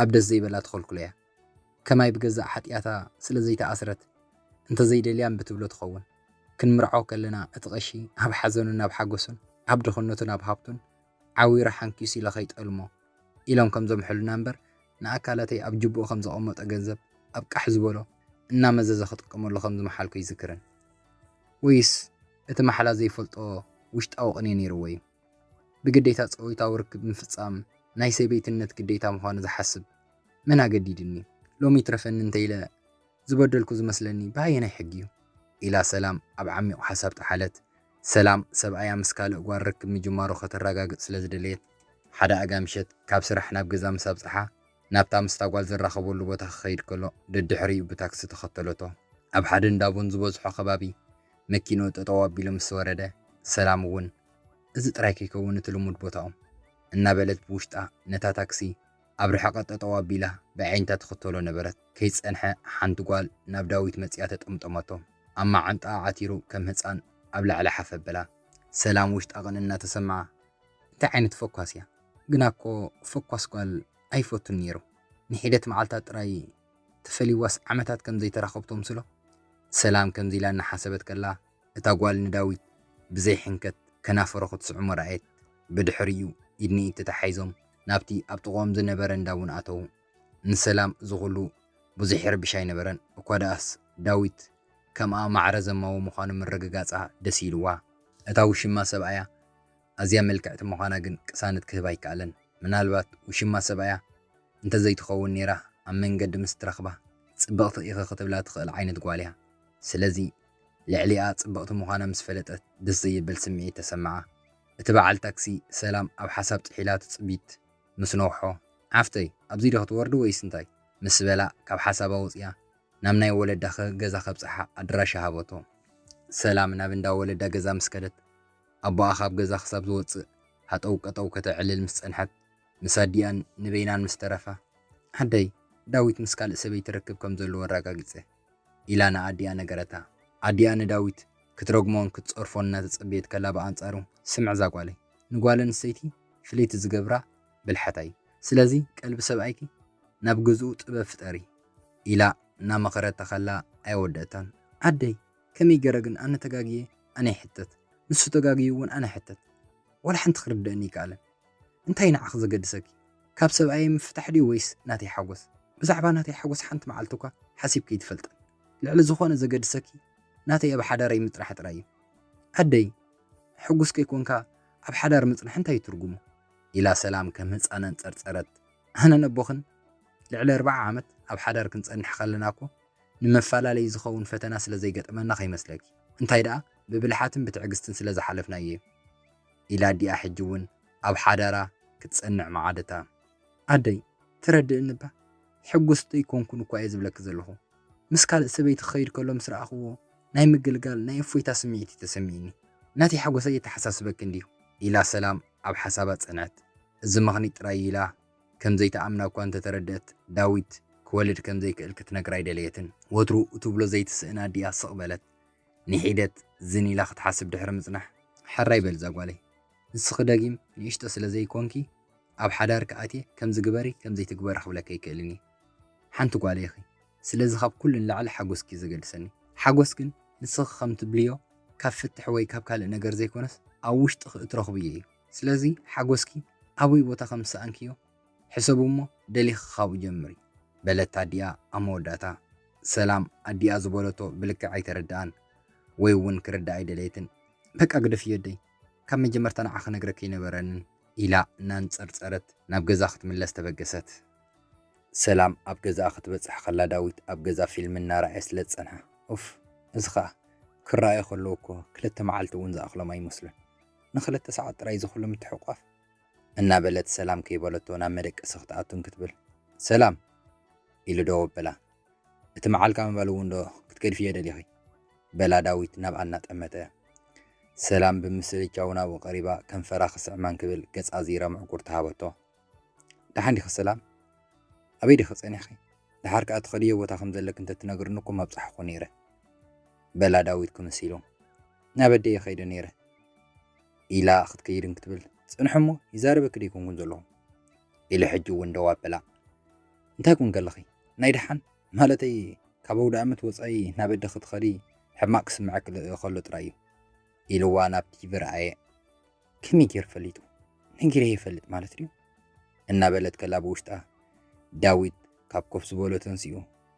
[SPEAKER 1] ኣብ ደስ ዘይበላ ትኸልክሎ'ያ? ከማይ ብገዛእ ሓጥያታ ስለ ዘይተኣስረት እንተ ዘይደልያ እምቢ ትብሎ ትኸውን። ክንምርዓው ከለና እቲ ቀሺ ኣብ ሓዘኑን ኣብ ሓጎሱን፣ ኣብ ድኽነቱን ኣብ ሃብቱን፣ ዓዊረ ሓንኲስ ኢለ ከይጠልሞ ኢሎም ከም ዘምሕሉና እምበር ንኣካላተይ ኣብ ጁብኡ ከም ዘቐመጦ ገንዘብ ኣብ ቃሕ ዝበሎ እናመዘዘ ክጥቀመሉ ከም ዝመሓልኩ ኣይዝክርን። ወይስ እቲ ማሕላ ዘይፈልጦ ውሽጣዊ ቅኔ ነይርዎ'ዩ? ብግዴታ ጾይታዊ ርክብ ምፍጻም ናይ ሰበይትነት ግዴታ ምዃኑ ዝሓስብ መን ኣገዲዱኒ? ሎሚ ይትረፈኒ እንተኢለ፣ ዝበደልኩ ዝመስለኒ ብኣየናይ ሕጊ እዩ? ኢላ ሰላም ኣብ ዓሚቝ ሓሳብ ጠሓለት። ሰላም፣ ሰብኣያ ምስ ካልእ ጓል ርክብ ምጅማሩ ከተረጋግጽ ስለ ዝደለየት፣ ሓደ ኣጋ ምሸት ካብ ስራሕ ናብ ገዛ ምስ ኣብጽሓ፣ ናብታ ምስታ ጓል ዝራኸበሉ ቦታ ክኸይድ ከሎ ደድሕሪኡ ብታክሲ ተኸተለቶ። ኣብ ሓደ እንዳ ቡን ዝበዝሖ ከባቢ መኪንኡ ጠጠው ኣቢሉ ምስ ወረደ፣ ሰላም እውን እዚ ጥራይ ከይከውን እቲ ልሙድ ቦታኦም፣ እናበለት ብውሽጣ ነታ ታክሲ፣ ኣብ ርሕቐት ጠጠው ኣቢላ ብኣዒንታ ትኽተሎ ነበረት። ከይጸንሐ ሓንቲ ጓል ናብ ዳዊት መጺኣ ተጠምጠመቶ። ኣብ መዓንጣኣ ዓቲሩ ከም ህጻን ኣብ ላዕሊ ሓፍ ኣበላ። ሰላም ውሽጣ ቅንእ እናተሰምዓ፣ እንታይ ዓይነት ፈኳስ እያ? ግና'ኮ ፈኳስ ጓል ኣይፈቱን ነይሩ። ንሒደት መዓልታት ጥራይ ተፈልዩዋስ ዓመታት ከም ዘይተራኸቡ ተምስሎ። ሰላም ከምዚ ኢላ እናሓሰበት ከላ እታ ጓል ንዳዊት ብዘይ ሕንከት ከናፈሮ ክትስዕሞ ረኣየት። ብድሕሪኡ ኢድ ንኢድ ተተሓሒዞም ናብቲ ኣብ ጥቕኦም ዝነበረ እንዳ እውን ኣተዉ። ንሰላም እዚ ዅሉ ብዙሕ ይርብሽ ኣይነበረን፣ እኳ ደኣስ ዳዊት ከምኣ ማዕረ ዘማዊ ምዃኑ ምርግጋጻ ደስ ኢልዋ። እታ ውሽማ ሰብኣያ ኣዝያ ምልክዕቲ ምዃና ግን ቅሳነት ክህባ ኣይከኣለን። ምናልባት ውሽማ ሰብኣያ እንተ ዘይትኸውን ነይራ ኣብ መንገዲ ምስ እትረኽባ ጽብቕቲ ኢኺ ክትብላ ትኽእል ዓይነት ጓል እያ። ስለዚ፣ ልዕሊኣ ጽብቕቲ ምዃና ምስ ፈለጠት ደስ ዘየብል ስምዒት ተሰምዓ። እቲ በዓል ታክሲ ሰላም ኣብ ሓሳብ ጥሒላ ትጽቢት ምስ ነውሖ፣ ሓፍተይ ኣብዚ'ዶ ክትወርዲ ወይስ እንታይ? ምስ በላ ካብ ሓሳባ ወጺኣ ናብ ናይ ወለዳ ገዛ ከብጽሓ ኣድራሻ ሃበቶ። ሰላም ናብ እንዳ ወለዳ ገዛ ምስ ከደት፣ ኣቦኣ ካብ ገዛ ክሳብ ዝወጽእ ሃጠው ቀጠው ከተዕልል ምስ ጸንሐት፣ ምስ ኣዲኣን ንበይናን ምስ ተረፋ፣ ኣደይ ዳዊት ምስ ካልእ ሰበይቲ ርክብ ከም ዘለዎ ኣረጋጊጸ። ኢላ ንኣዲኣ ነገረታ። ኣዲኣ ንዳዊት ክትረግሞን ክትጸርፎን እናተጸበየት ከላ ብኣንጻሩ፣ ስምዕ እዛ ጓለይ፣ ንጓል ኣንስተይቲ ፍልይቲ ዝገብራ ብልሓታ እዩ። ስለዚ ቀልቢ ሰብኣይኪ ናብ ገዝኡ ጥበብ ፍጠሪ። ኢላ እናመኸረታ ከላ ኣየወደእታን። ኣደይ! ከመይ ገረ ግን ኣነ ተጋግየ ኣነ ይሕተት፣ ንሱ ተጋግዩ እውን ኣነ እሕተት። ዋላ ሓንቲ ክርደኣኒ ኣይከኣለን። እንታይ ንዓኺ ዘገድሰኪ ካብ ሰብኣየይ ምፍታሕ ድዩ ወይስ ናተይ ሓጎስ ብዛዕባ ናተይ ሓጎስ ሓንቲ መዓልቲ እኳ ሓሲብኪ ኣይትፈልጥን ልዕሊ ዝኾነ ዘገድሰኪ ናተይ ኣብ ሓዳረይ ምጽራሕ ጥራይ እዩ ኣደይ ሕጉስ ከይኮንካ ኣብ ሓዳር ምጽናሕ እንታይ ትርጉሙ ኢላ ሰላም ከም ህጻን ኣንጸርጸረት ኣነ ነቦኽን ልዕሊ ኣርባዓ ዓመት ኣብ ሓዳር ክንጸንሕ ከለና እኮ ንመፈላለዪ ዝኸውን ፈተና ስለ ዘይገጠመና ከይመስለኪ እንታይ ደኣ ብብልሓትን ብትዕግስትን ስለ ዝሓለፍናዮ እዩ ኢላ ዲኣ ሕጂ ውን ኣብ ሓዳራ ክትጸንዕ ምዓደታ። ኣደይ ትረድእኒ እባ ሕጉስ ደይኮንኩን እኳ እየ ዝብለኪ ዘለኹ ምስ ካልእ ሰበይቲ ክኸይድ ከሎ ምስ ረኣኽዎ ናይ ምግልጋል ናይ እፎይታ ስምዒት እዩ ተሰሚእኒ ናተይ ሓጎስ ኣየተሓሳስበኪ እንድዩ ኢላ ሰላም ኣብ ሓሳባ ጸንዐት እዚ ምኽኒት ጥራይ ኢላ ከም ዘይትኣምና እኳ እንተተረድእት ዳዊት ክወልድ ከም ዘይክእል ክትነግራ ኣይደለየትን ወትሩ እትብሎ ዘይትስእን ኣዲኣ ስቕ በለት ንሒደት ዝን ኢላ ክትሓስብ ድሕሪ ምጽናሕ፣ ሐራይ በል እዛ ጓለይ፣ ንስኺ ደጊም ንእሽቶ ስለ ዘይኰንኪ፣ ኣብ ሓዳርኪ ኣትየ ከምዚ ግበሪ ከምዚ ኣይትግበሪ ክብለኪ ኣይክእልን እየ። ሓንቲ ጓለይ ኢኺ፣ ስለዚ ካብ ኩሉ ንላዕሊ ሓጐስኪ እዩ ዘገድሰኒ። ሓጐስ ግን ንስኺ ከም ትብልዮ ካብ ፍትሕ ወይ ካብ ካልእ ነገር ዘይኰነስ ኣብ ውሽጥኺ እትረኽብዮ እዩ። ስለዚ ሓጐስኪ ኣበይ ቦታ ከም ዝሰኣንክዮ ሕሰቡ እሞ ደሊኺ ካብኡ ጀምሪ። በለት ኣዲኣ ኣብ መወዳእታ። ሰላም ኣዲኣ ዝበለቶ ብልክዕ ኣይተረድኣን ወይ እውን ክርድኣ ኣይደለየትን። በቃ ግደፍዮ ኣደይ ካብ መጀመርታ ንዓ ክነግረኪ ኣይነበረንን። ኢላ እናንጸርጸረት ናብ ገዛ ክትምለስ ተበገሰት። ሰላም ኣብ ገዛኣ ክትበጽሕ ከላ ዳዊት ኣብ ገዛ ፊልም እናረኣየ ስለ ዝጸንሐ። ኡፍ እዚ ከኣ ክረኣዩ ከለዉ እኮ ክልተ መዓልቲ እውን ዝኣኽሎም ኣይመስሉን። ንክልተ ሰዓት ጥራይ እዚ ኩሉ ምትሕቑቋፍ። እናበለት ሰላም ከይበለቶ ናብ መደቀሲ ክትኣቱ እንክትብል ሰላም! ኢሉ ደው ኣበላ። እቲ መዓልካ ምባል እውን ዶ ክትገድፍዮ ደሊኺ? በላ ዳዊት ናብኣ እናጠመተ። ሰላም ብምስልቻው ናብኡ ቀሪባ ከንፈራ ክስዕማ እንክብል ገጻ ኣዚራ ምዕጉርቲ ሃበቶ። ደሓን ዲኺ ሰላም? ኣበይ ዲኺ ጸኒሕኺ? ደሓር ከኣ ትኸድዮ ቦታ ከም ዘለኪ እንተ ትነግርኒ እኮ ምኣብጻሕኩ ነይረ። በላ ዳዊት ክምስ ኢሉ። ናብ ኣደይ እየ ከይደ ነይረ። ኢላ ክትከይድ እንክትብል ጽንሒ እሞ ይዛረበኪ ደይኮንኩን ዘለኹ ኢለ ሕጂ እውን ደው ኣበላ። እንታይ ኩን ከለኺ ናይ ደሓን ማለተይ ካብ ኣውደኣመት ወጻኢ ናብ ኣደ ክትኸዲ ሕማቕ ክስምዐኪ ከሎ ጥራይ እዩ ኢልዋ ናብ ቲቪ ረኣየ። ከመይ ገይሩ ፈሊጡ ነጊረ ይፈልጥ ማለት ድዩ እናበለት ከላ ብውሽጣ ዳዊት ካብ ኮፍ ዝበሎ ተንሲኡ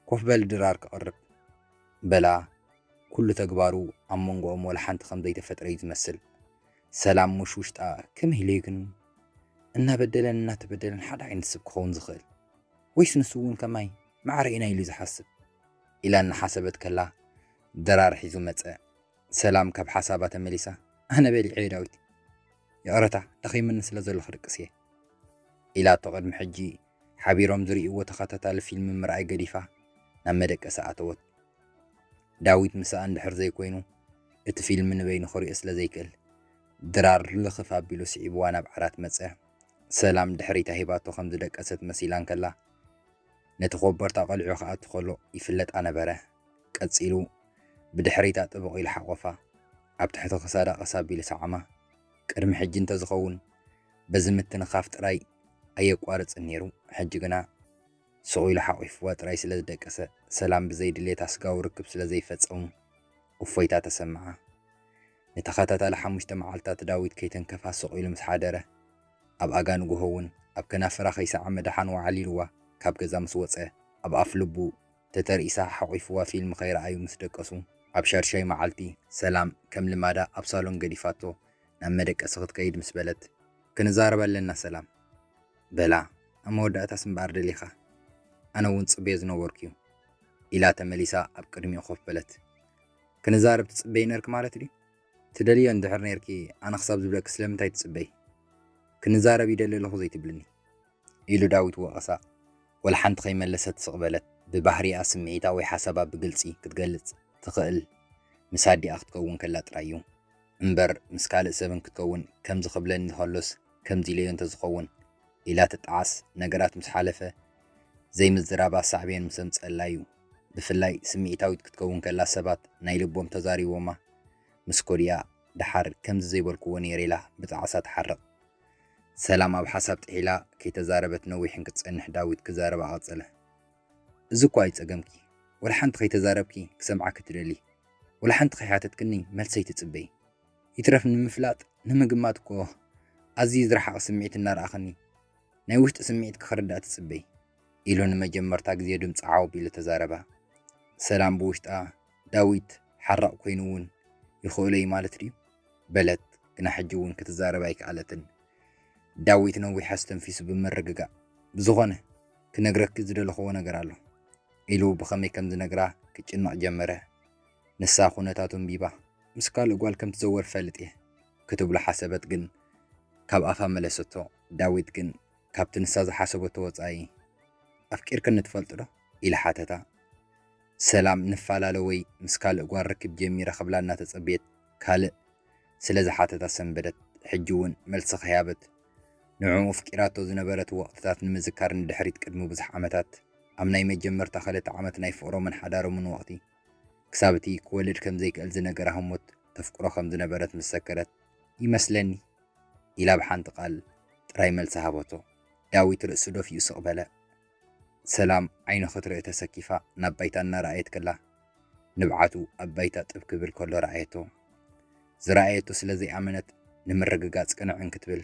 [SPEAKER 1] ኮፍ በል ድራር ክቐርብ በላ ኩሉ ተግባሩ ኣብ መንጎኦም ወላ ሓንቲ ከም ዘይተፈጥረ እዩ ዝመስል ሰላም ሙሽ ውሽጣ ከመይ ኢሉ እዩ ግን እናበደለን እናተበደለን ሓደ ዓይነት ስብ ክኸውን ዝኽእል ወይስ ንሱ እውን ከማይ ማዕረ ኢና ኢሉ ዝሓስብ ኢላ እናሓሰበት ከላ ድራር ሒዙ መፀ ሰላም ካብ ሓሳባ ተመሊሳ ኣነ በሊዐ ዳዊት ይቕረታ ደኺሙኒ ስለ ዘሎ ክድቅስ እየ ኢላቶ ቅድሚ ሕጂ ሓቢሮም ዝርእይዎ ተኸታታሊ ፊልሚ ምርኣይ ገዲፋ ናብ መደቀሲ ኣተወት። ዳዊት ምስኣ እንድሕር ዘይኮይኑ እቲ ፊልሚ ንበይኑ ክሪኦ ስለ ዘይክእል፣ ድራር ልኽፍ ኣቢሉ ስዒብዋ ናብ ዓራት መጸ። ሰላም ድሕሪታ ሂባቶ ከም ዝደቀሰት መሲላ እንከላ፣ ነቲ ኮቦርታ ቀሊዑ ክኣቱ ከሎ ይፍለጣ ነበረ። ቀጺሉ ብድሕሪታ ጥብቕ ኢሉ ሓቖፋ፣ ኣብ ትሕቲ ክሳዳ ቀስ ኣቢሉ ሰዓማ። ቅድሚ ሕጂ እንተ ዝኸውን፣ በዚ ምትንኻፍ ጥራይ ኣየቋርጽን ነይሩ፣ ሕጂ ግና ስቕ ኢሉ ሓቚፍዋ ጥራይ ስለ ዝደቀሰ፣ ሰላም ብዘይ ድሌት ኣስጋዊ ርክብ ስለ ዘይፈጸሙ እፎይታ ተሰምዓ። ንተኸታታሊ ሓሙሽተ መዓልትታት ዳዊት ከይተንከፋ ስቕ ኢሉ ምስ ሓደረ፣ ኣብ ኣጋ ንግሆ እውን ኣብ ከናፍራ ከይሰዓመ ደሓን ወዓል ኢልዋ ካብ ገዛ ምስ ወጸ፣ ኣብ ኣፍ ልቡ፣ ተተርኢሳ ሓቚፍዋ ፊልም ከይረኣዩ ምስ ደቀሱ ኣብ ሻድሻይ መዓልቲ ሰላም ከም ልማዳ ኣብ ሳሎን ገዲፋቶ ናብ መደቀሲ ክትከይድ ምስ በለት ክንዛረብ ኣለና ሰላም በላ ኣብ መወዳእታስ እምበኣር ደሊኻ ኣነ እውን ጽበዮ ዝነበርኩ'ዩ ኢላ ተመሊሳ ኣብ ቅድሚኡ ኮፍ በለት ክንዛረብ ትጽበዪ ነርኪ ማለት ድዩ ትደልዮ እንድሕር ነርኪ ኣነ ክሳብ ዝብለኪ ስለምንታይ ትጽበዪ ክንዛረብ ይደሊ ኣለኹ ዘይትብልኒ። ኢሉ ዳዊት ወቐሳ። ወላሓንቲ ከይመለሰት ስቕ በለት። ብባህሪኣ ስምዒታ ወይ ሓሳባ ብግልጺ ክትገልጽ ትኽእል ምስ ኣዲኣ ክትከውን ከላ ጥራይ'ዩ። እምበር ምስ ካልእ ሰብ እንክትከውን ከምዚ ክብለኒ ከሎስ ከምዚ ኢለዮ እንተዝኸውን ኢላ ትጠዓስ። ነገራት ምስ ሓለፈ ዘይምዝራባ ሳዕቤን ምስ ኣምጸኣላ'ዩ። ብፍላይ ስምዒታዊት ክትከውን ከላ ሰባት ናይ ልቦም ተዛሪቦማ ምስ ኮድያ ደሓር ከምዚ ዘይበልኩዎ ነይረ ኢላ ብጣዕሳ ትሓርቕ። ሰላም ኣብ ሓሳብ ጥሒላ ከይተዛረበት ነዊሕ እንክትጸንሕ ዳዊት ክዛረባ ቀጸለ። እዚ እኳ እዩ ጸገምኪ ወላ ሓንቲ ከይተዛረብኪ ክሰምዓኪ ትደልዪ ወላ ሓንቲ ከይሓተትክኒ መልሰይ ትጽበዪ ይትረፍ ንምፍላጥ ንምግማት እኮ ኣዝዪ ዝረሓቐ ስምዒት እናረኣኽኒ ናይ ውሽጢ ስምዒትኪ ክርዳእ ትጽበዪ ኢሉ ንመጀመርታ ግዜ ድምጹ ዓው ኣቢሉ ተዛረባ። ሰላም ብውሽጣ ዳዊት ሓራቕ ኮይኑ'ውን ይኽእሎ'ዩ ማለት ድዩ? በለት፣ ግና ሕጂ'ውን ክትዛረብ ኣይከኣለትን። ዳዊት ነዊሕ ኣስተንፊሱ ብምርግጋእ፣ ብዝኾነ ክነግረኪ ዝደለኹዎ ነገር ኣሎ። ኢሉ ብኸመይ ከም ዝነግራ ክጭነቕ ጀመረ። ንሳ ኩነታቱ ኣንቢባ። ምስ ካልእ ጓል ከም ትዘወር እፈልጥ'የ። ክትብሎ ሓሰበት ግን ካብ ኣፋ መለሰቶ። ዳዊት ግን ካብቲ ንሳ ዝሓሰበቶ ወጻኢ፣ ኣፍቂርክኒ ትፈልጥዶ? ኢለ ሓተታ። ሰላም ንፋላለ ወይ ምስ ካልእ ጓል ርክብ ጀሚረ ክብላ እናተጸበየት ካልእ ስለ ዝሓተታ ሰንበደት። ሕጂ እውን መልሲ ከይሃበት ንዕኡ ኣፍቂራቶ ዝነበረት ወቕትታት ንምዝካር ንድሕሪት ቅድሚ ብዙሕ ዓመታት ኣብ ናይ መጀመርታ ክልተ ዓመት ናይ ፍቕሮምን ሓዳሮምን ወቕቲ ክሳብ እቲ ክወልድ ከም ዘይክእል ዝነገራ ህሞት ተፍቅሮ ከም ዝነበረት ምስ ዘከረት ይመስለኒ ኢላ ብሓንቲ ቃል ጥራይ መልሲ ሃበቶ። ዳዊት ርእሱ ደፊኡ ስቕ በለ። ሰላም ዓይኑ ክትርኢ ተሰኪፋ ናብ ባይታ እናረኣየት ከላ፣ ንብዓቱ ኣብ ባይታ ጥብ ክብል ከሎ ረኣየቶ። ዝረኣየቶ ስለ ዘይኣመነት ንምርግጋጽ ቅንዕ እንክትብል፣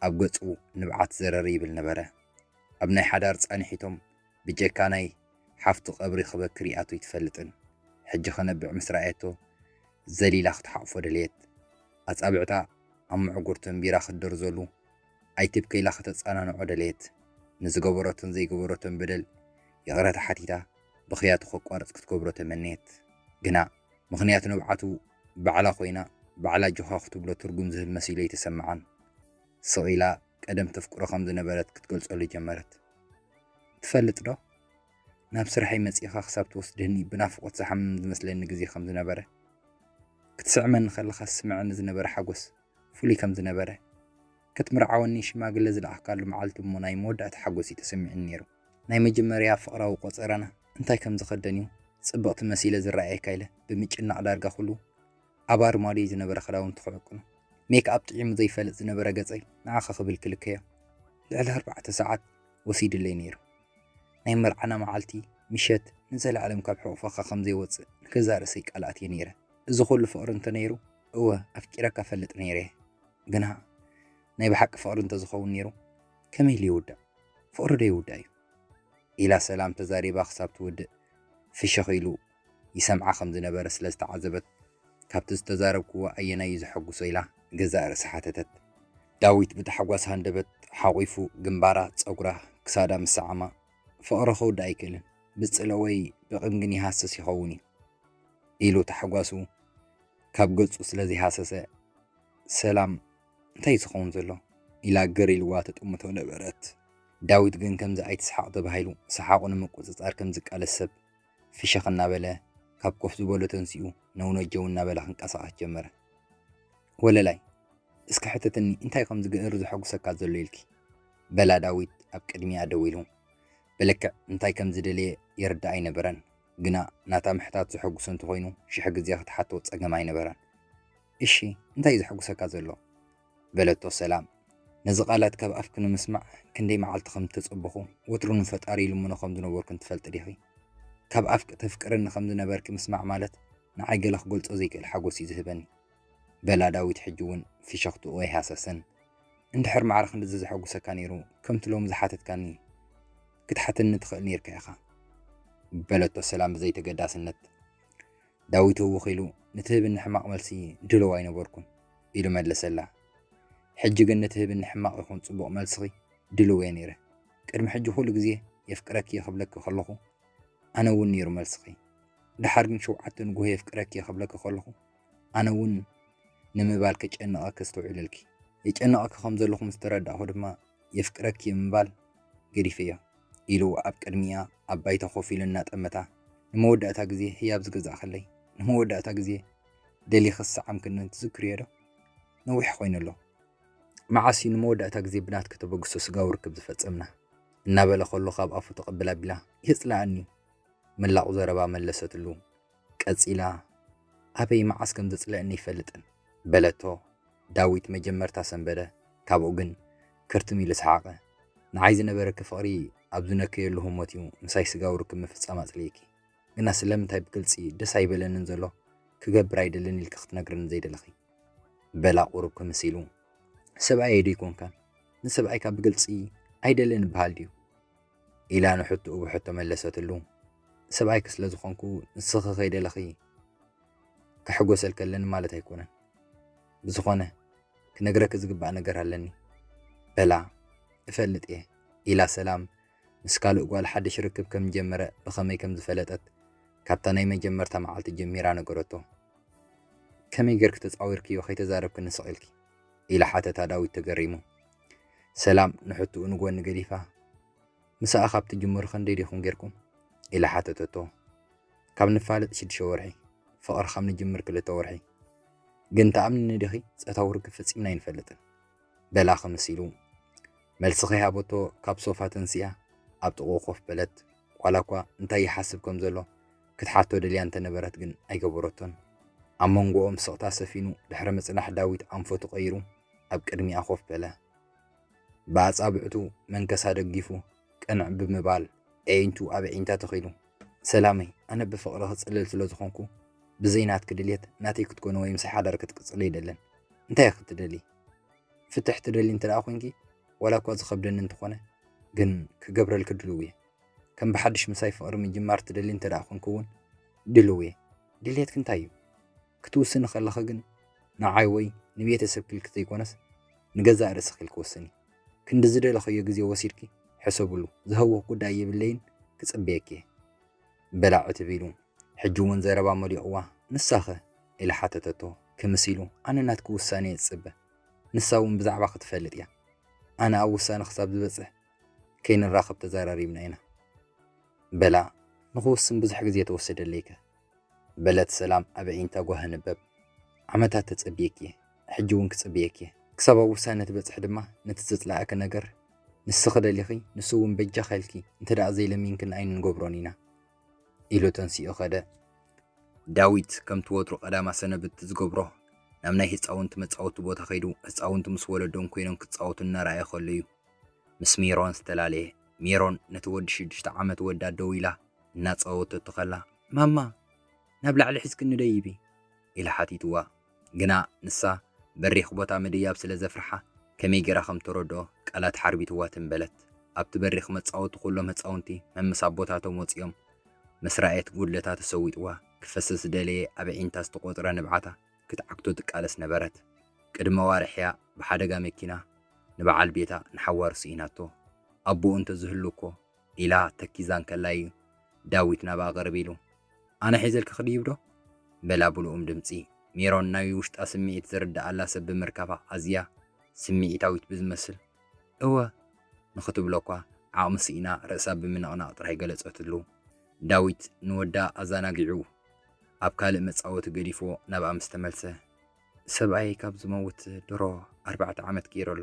[SPEAKER 1] ኣብ ገጹ ንብዓት ዘረር ይብል ነበረ። ኣብ ናይ ሓዳር ጻንሒቶም ብጀካ ናይ ሓፍቱ ቀብሪ ክበኪ ሪኣቶ ኣይትፈልጥን። ሕጂ ክነብዕ ምስ ረኣየቶ ዘሊላ ክትሓቑፎ ደለየት። ኣጻብዕታ ኣብ ምዕጉርቱ ኣንቢራ ክትደርዘሉ፣ ኣይትብከ ኢላ ከተጸናንዖ ደለየት። ንዝገበረቶን ዘይገበረቶን በደል ይቕረታ ሓቲታ ብኽያቱ ከቋርጽ ክትገብሮ ተመነየት። ግና ምኽንያት ንብዓቱ ባዕላ ኮይና ባዕላ ጆኻ ክትብሎ ትርጉም ዝህብ መሲሉ ኣይተሰምዓን። ስቕ ኢላ ቀደም ተፍቅሮ ከም ዝነበረት ክትገልጸሉ ጀመረት። ትፈልጥዶ? ናብ ስራሐይ መጺእኻ ክሳብ ትወስደኒ ብናፍቖት ዝሓምም ዝመስለኒ ግዜ ከም ዝነበረ። ክትስዕመኒ ከለኻ ዝስምዓኒ ዝነበረ ሓጎስ። ፍሉይ ከም ዝነበረ፣ ክትምርዓወኒ ሽማግለ ዝለኣኽካሉ መዓልቲ እሞ ናይ መወዳእታ ሓጎስ እዩ ተሰሚዑኒ ነይሩ። ናይ መጀመርያ ፍቕራዊ ቆጸራና እንታይ ከም ዝኸደን እዩ ጽብቕቲ መሲለ ዝረኣየካ ኢለ ብምጭናቕ ዳርጋ ኩሉ ኣብ ኣርማድዮይ ዝነበረ ክዳውንቲ ክዕቅኖ፣ ሜክኣፕ ጥዒሙ ዘይፈልጥ ዝነበረ ገጸይ ንዓኺ ክብል ክልከዮ ልዕሊ ኣርባዕተ ሰዓት ወሲዱለይ ነይሩ። ናይ መርዓና መዓልቲ ምሸት ንዘለኣለም ካብ ሕቑፈኻ ከም ዘይወጽእ ንገዛእ ርእሰይ ቃል ኣትየ ነይረ። እዚ ኩሉ ፍቕሪ እንተነይሩ እወ ኣፍቂረካ እፈልጥ ነይረ ግና ናይ ብሓቂ ፍቕሪ እንተዝኸውን ነይሩ ከመይ ኢሉ ይውዳእ ፍቕሪ ዶ ይውዳእ እዩ ኢላ ሰላም ተዛሪባ ክሳብ ትውድእ ፍሽኽ ኢሉ ይሰምዓ ከም ዝነበረ ስለ ዝተዓዘበት ካብቲ ዝተዛረብክዎ ኣየናይ እዩ ዘሐጉሶ ኢላ ገዛእ ርእሳ ሓተተት። ዳዊት ብታሕጓስ ሃንደበት ሓቝፉ ግንባራ፣ ጸጉራ፣ ክሳዳ ምስ ሰዓማ ፍቕሪ ክውዳእ ኣይክእልን ብጽልኦ ወይ ብቕም ግን ይሃስስ ይኸውን እዩ ኢሉ ታሕጓሱ ካብ ገጹ ስለ ዘይሃሰሰ፣ ሰላም እንታይ እዩ ዝኸውን ዘሎ? ኢላ ግር ኢልዋ ትጥምቶ ነበረት። ዳዊት ግን ከምዚ ኣይትስሓቕ ተባሂሉ ሰሓቑ ንምቁጽጻር ከም ዝቃለስ ሰብ፣ ፍሽኽ እናበለ ካብ ኮፍ ዝበሎ ተንሲኡ ነውነጀው እናበለ ክንቀሳቐስ ጀመረ። ወለላይ እስኪ ሕተትኒ እንታይ ከም ዝገእር ዘሐጉሰካ ዘሎ ኢልኪ? በላ ዳዊት ኣብ ቅድሚኣ ደው ኢሉ። ብልክዕ እንታይ ከም ዝደለየ ይርድኣ ኣይነበረን። ግና ናታ ምሕታት ዘሐጉሶ እንተኾይኑ ሽሕ ግዜ ክትሓቶ ጸገም ኣይነበራን። እሺ እንታይ እዩ ዘሐጉሰካ ዘሎ? በለቶ ሰላም ነዚ ቃላት ካብ ኣፍኪ ንምስማዕ ክንደይ መዓልቲ ከም እተጸበኹ ወትሩ ንፈጣሪ ይልምኖ ከም ዝነበርኩን ትፈልጢ ዲኺ? ካብ ኣፍኪ ተፍቅርኒ ከም ዝነበርኪ ምስማዕ ማለት ንዓይ ገለ ክገልጾ ዘይክእል ሓጎስ እዩ ዝህበኒ። በላ ዳዊት ሕጂ እውን ፍሸኽትኡ ኣይሃሰሰን። እንድሕር ማዕረ ክንድዚ ዘሐጉሰካ ነይሩ ከምቲ ሎሚ ዝሓተትካኒ ክትሓተኒ ትኽእል ነይርካ ኢኻ በለቶ ሰላም ብዘይተገዳስነት። ዳዊት ህውኽ ኢሉ ንትህብኒ ሕማቕ መልሲ ድሉው ኣይነበርኩን ኢሉ መለሰላ። ሕጂ ግን ንትህብኒ ሕማቕ ይኹን ጽቡቕ መልስኺ ድሉው እየ ነይረ። ቅድሚ ሕጂ ኩሉ ግዜ የፍቅረኪ እየ ክብለኪ ከለኹ ኣነ እውን ነይሩ መልስኺ። ደሓር ግን ሸውዓተ ንጉሆ የፍቅረኪ እየ ክብለኪ ከለኹ ኣነ እውን ንምባል ከጨንቐኪ ኣስተውዒለልኪ። የጨንቐኪ ከም ዘለኹ ምስ ተረዳእኩ ድማ የፍቅረኪ ብምባል ገዲፈዮ ኢሉ ኣብ ቅድሚኣ ኣብ ባይታ ኮፍ ኢሉ እናጠመታ ንመወዳእታ ግዜ ህያብ ዝገዛእክለይ ንመወዳእታ ግዜ ደሊኺ ዝሰዓምክንን ትዝክርዮ ዶ? ነዊሕ ኮይኑ ኣሎ መዓስ እዩ ንመወዳእታ ግዜ ብናትኪ ተበግሶ ስጋዊ ርክብ ዝፈጸምና? እናበለ ከሎ ካብ ኣፉ ተቐብል ኣቢላ የጽልኣኒ መላቑ ዘረባ መለሰትሉ። ቀጺላ ኣበይ መዓስ ከም ዘጽልእኒ ኣይፈልጥን በለቶ ዳዊት መጀመርታ ሰንበደ ካብኡ ግን ክርትም ኢሉ ሰሓቀ ንዓይ ዝነበረኪ ፍቅሪ ኣብ ዝነከየሉ ህሞት እዩ ምሳይ ስጋዊ ርክብ ምፍጻም ኣጽሊኢኪ ግና ስለምንታይ ብግልጺ ደስ ኣይበለንን ዘሎ ክገብር ኣይደልን ኢልኪ ክትነግርኒ ዘይደለኺ በላ ቁሩብ ክምስ ኢሉ ሰብኣየይ ዶ ኣይኮንካን ንሰብኣይካ ብግልጺ ኣይደልን ይበሃል ድዩ ኢላ ንሕትኡ ብሕቶ መለሰትሉ። ሰብኣይኪ ስለ ዝኾንኩ ንስኺ ከይደለኺ ከሕጎሰልኪ ኣለኒ ማለት ኣይኮነን። ብዝኾነ ክነግረኪ ዝግባእ ነገር ኣለኒ በላ። እፈልጥ እየ ኢላ ሰላም ምስ ካልእ ጓል ሓድሽ ርክብ ከም ጀመረ ብኸመይ ከም ዝፈለጠት ካብታ ናይ መጀመርታ መዓልቲ ጀሚራ ነገረቶ። ከመይ ጌርኪ ተጻዊርክዮ ከይተዛረብክኒ ስቕ ኢልኪ? ኢላ ሓተታ ዳዊት ተገሪሙ። ሰላም ንሕትኡ ንጎኒ ገዲፋ፣ ምሳኣ ካብ ትጅምሩ ከንደይ ዲኹም ጌርኩም? ኢላ ሓተተቶ። ካብ ንፋለጥ ሽዱሽተ ወርሒ፣ ፍቕሪ ካብ ንጅምር ክልተ ወርሒ። ግን ተኣምንኒ ዲኺ ጾታዊ ርክብ ፈጺምና ኣይንፈልጥን። በላ ክምስ ኢሉ። መልሲ ከይሃበቶ ካብ ሶፋ ተንሲኣ ኣብ ጥቕኡ ኮፍ በለት። ዋላ እኳ እንታይ ይሓስብ ከም ዘሎ ክትሓቶ ደልያ እንተነበረት ግን ኣይገበረቶን። ኣብ መንጎኦም ስቕታ ሰፊኑ ድሕሪ ምጽናሕ ዳዊት ኣንፈቱ ቀይሩ ኣብ ቅድሚኣ ኮፍ በለ። ብኣጻብዕቱ መንከሳ ደጊፉ ቅንዕ ብምባል ኣዒንቱ ኣብ ኣዒንታ ተኺሉ፣ ሰላመይ፣ ኣነ ብፍቕሪ ክጽልል ስለ ዝኾንኩ፣ ብዘይ ናትኪ ድልየት ናተይ ክትኮኒ ወይ ምሳይ ሓዳር ክትቅጽሊ ኣይደልን። እንታይ ኢኺ ትደልዪ? ፍትሕ ትደልዪ እንተደኣ ኮይንኪ፣ ዋላ እኳ ዝኸብደኒ እንተኾነ፣ ግን ክገብረልኪ ድሉው እየ። ከም ብሓድሽ ምሳይ ፍቕሪ ምጅማር ትደልዪ እንተደኣ ኮይንኪ እውን ድሉው እየ። ድልየትኪ እንታይ እዩ? ክትውስኒ ከለኺ ግን ንዓይ ወይ ንቤተሰብኪ ኢልኪ ዘይኮነስ ንገዛእ ርእስኺ ኢልኪ ወስኒ። ክንዲ ዝደለኸዮ ግዜ ወሲድኪ ሕሰብሉ፣ ዝሀውኽ ጉዳይ የብለይን ክጽበየኪ እየ። በላ ዕትብ ኢሉ ሕጂ እውን ዘረባ መሊቑዋ ንሳኸ? ኢላ ሓተተቶ ክምስ ኢሉ። ኣነ ናትኪ ውሳኔ እየ ዝጽበ፣ ንሳ እውን ብዛዕባኺ ትፈልጥ እያ። ኣነ ኣብ ውሳነ ክሳብ ዝበጽሕ ከይንራኸብ ተዘራሪብና ኢና። በላ ንኽውስን ብዙሕ ግዜ ተወሰደለይከ? በለት ሰላም ኣብ ኣዒንታ ጓህ ኣንበብ። ዓመታት ተጸብየኪ እየ፣ ሕጂ እውን ክጽብየኪ እየ። ክሳብ ኣብ ውሳነ ትበጽሒ ድማ ነቲ ዘጽለኣኪ ነገር ንስኺ ደሊኺ ንሱ እውን በጃኺ ኢልኪ እንተደኣ ዘይለሚንክኒ ኣይንንገብሮን ኢና ኢሉ ተንሲኡ ከደ። ዳዊት ከምቲ ወትሩ ቀዳማ ሰነብት ዝገብሮ ናብ ናይ ህጻውንቲ መጻወቲ ቦታ ከይዱ ህጻውንቲ ምስ ወለዶም ኮይኖም ክጻወቱ እናረኣየ ከሎ እዩ ምስ ሜሮን ዝተላለየ። ሜሮን ነቲ ወዲ ሽዱሽተ ዓመት ወዳ ደው ኢላ እናጸወተቶ ከላ፣ ማማ ናብ ላዕሊ ሒዝክኒ ደይቢ? ኢላ ሓቲትዋ። ግና ንሳ በሪኽ ቦታ ምድያብ ስለ ዘፍርሓ ከመይ ገይራ ከም ተረድኦ ቃላት ሓርቢትዋ ትም በለት። ኣብቲ በሪኽ መጻወቲ ኩሎም ህጻውንቲ መምሳብ ቦታቶም ወጺኦም። ምስ ረኣየት ጉድለታ ተሰዊጥዋ ክፈስስ ዝደለየ ኣብ ኣዒንታ ዝተቖጽረ ንብዓታ ክትዓግቶ ትቃለስ ነበረት። ቅድሚ ኣዋርሕ'ያ ብሓደጋ መኪና ንበዓል ቤታ ንሓዋሩ ስኢናቶ። ኣቦኡ እንተ ዝህሉ እኮ ኢላ ተኪዛ እንከላ እዩ ዳዊት ናብኣ ቅርብ ኢሉ፣ ኣነ ሒዘልኪ ክድይብዶ? በላ ብልኡም ድምጺ። ሜሮን ናይ ውሽጣ ስምዒት ዝርድኣላ ሰብ ብምርካባ ኣዝያ ስምዒታዊት ብዝመስል እወ ንኽትብሎ'ኳ ዓቕሚ ስኢና ርእሳ ብምንቕናቕ ጥራይ ገለጸትሉ። ዳዊት ንወዳ ኣዛናጊዑ ኣብ ካልእ መጻወቲ ገዲፍዎ ናብኣ ምስ ተመልሰ። ሰብኣየይ ካብ ዝመውት ድሮ ኣርባዕተ ዓመት ገይሩ ኣሎ።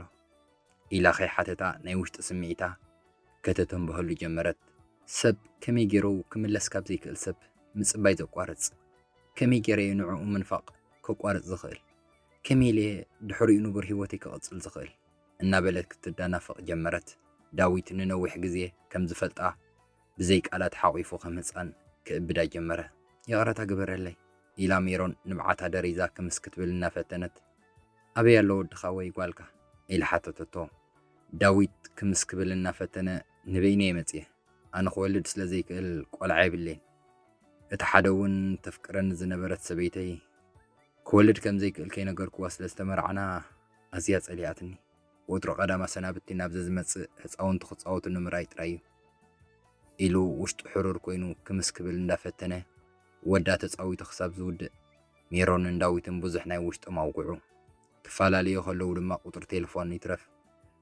[SPEAKER 1] ኢላ ከይሓተታ ናይ ውሽጢ ስምዒታ ከተተንብሀሉ ጀመረት። ሰብ ከመይ ገይሩ ክምለስ ካብ ዘይክእል ሰብ ምጽባይ ዘቋርጽ? ከመይ ገይረ'የ ንዕኡ ምንፋቕ ከቋርጽ ዝኽእል? ከመይ ኢለ'የ ድሕሪኡ ንቡር ህይወተይ ክቕጽል ዝኽእል? እናበለት ክትደናፈቕ ጀመረት። ዳዊት ንነዊሕ ግዜ ከም ዝፈልጣ ብዘይ ቃላት ሓቝፉ ከም ህጻን ክእብዳ ጀመረ። ይቕረታ ግበረለይ፣ ኢላ ሜሮን ንብዓታ ደሪዛ ክምስ ክትብል እናፈተነት። ኣበይ ኣሎ ወድኻ ወይ ጓልካ? ኢላ ሓተተቶ። ዳዊት ክምስ ክብል እናፈተነ ንበይነይ'የ መጺኤ። ኣነ ክወልድ ስለ ዘይክእል ቆልዓ የብለይን። እታ ሓደ'ውን ተፍቅረኒ ዝነበረት ሰበይተይ ክወልድ ከም ዘይክእል ከይነገርኩዋ ስለ ዝተመራዕና ኣዝያ ጸሊኣትኒ። ወትሩ ቀዳም ኣሰናብቲ ናብ ዘዝመጽእ ህጻውንቲ ክጻወትሉ ምርኣይ ጥራይ'ዩ። ኢሉ ውሽጡ ሕሩር ኮይኑ ክምስ ክብል እንዳፈተነ ወዳ ተጻዊቱ ክሳብ ዝውድእ ሜሮንን ዳዊትን ብዙሕ ናይ ውሽጦም ኣውግዑ። ክፈላለዩ ከለዉ ድማ ቁጽሪ ቴለፎን ይትረፍ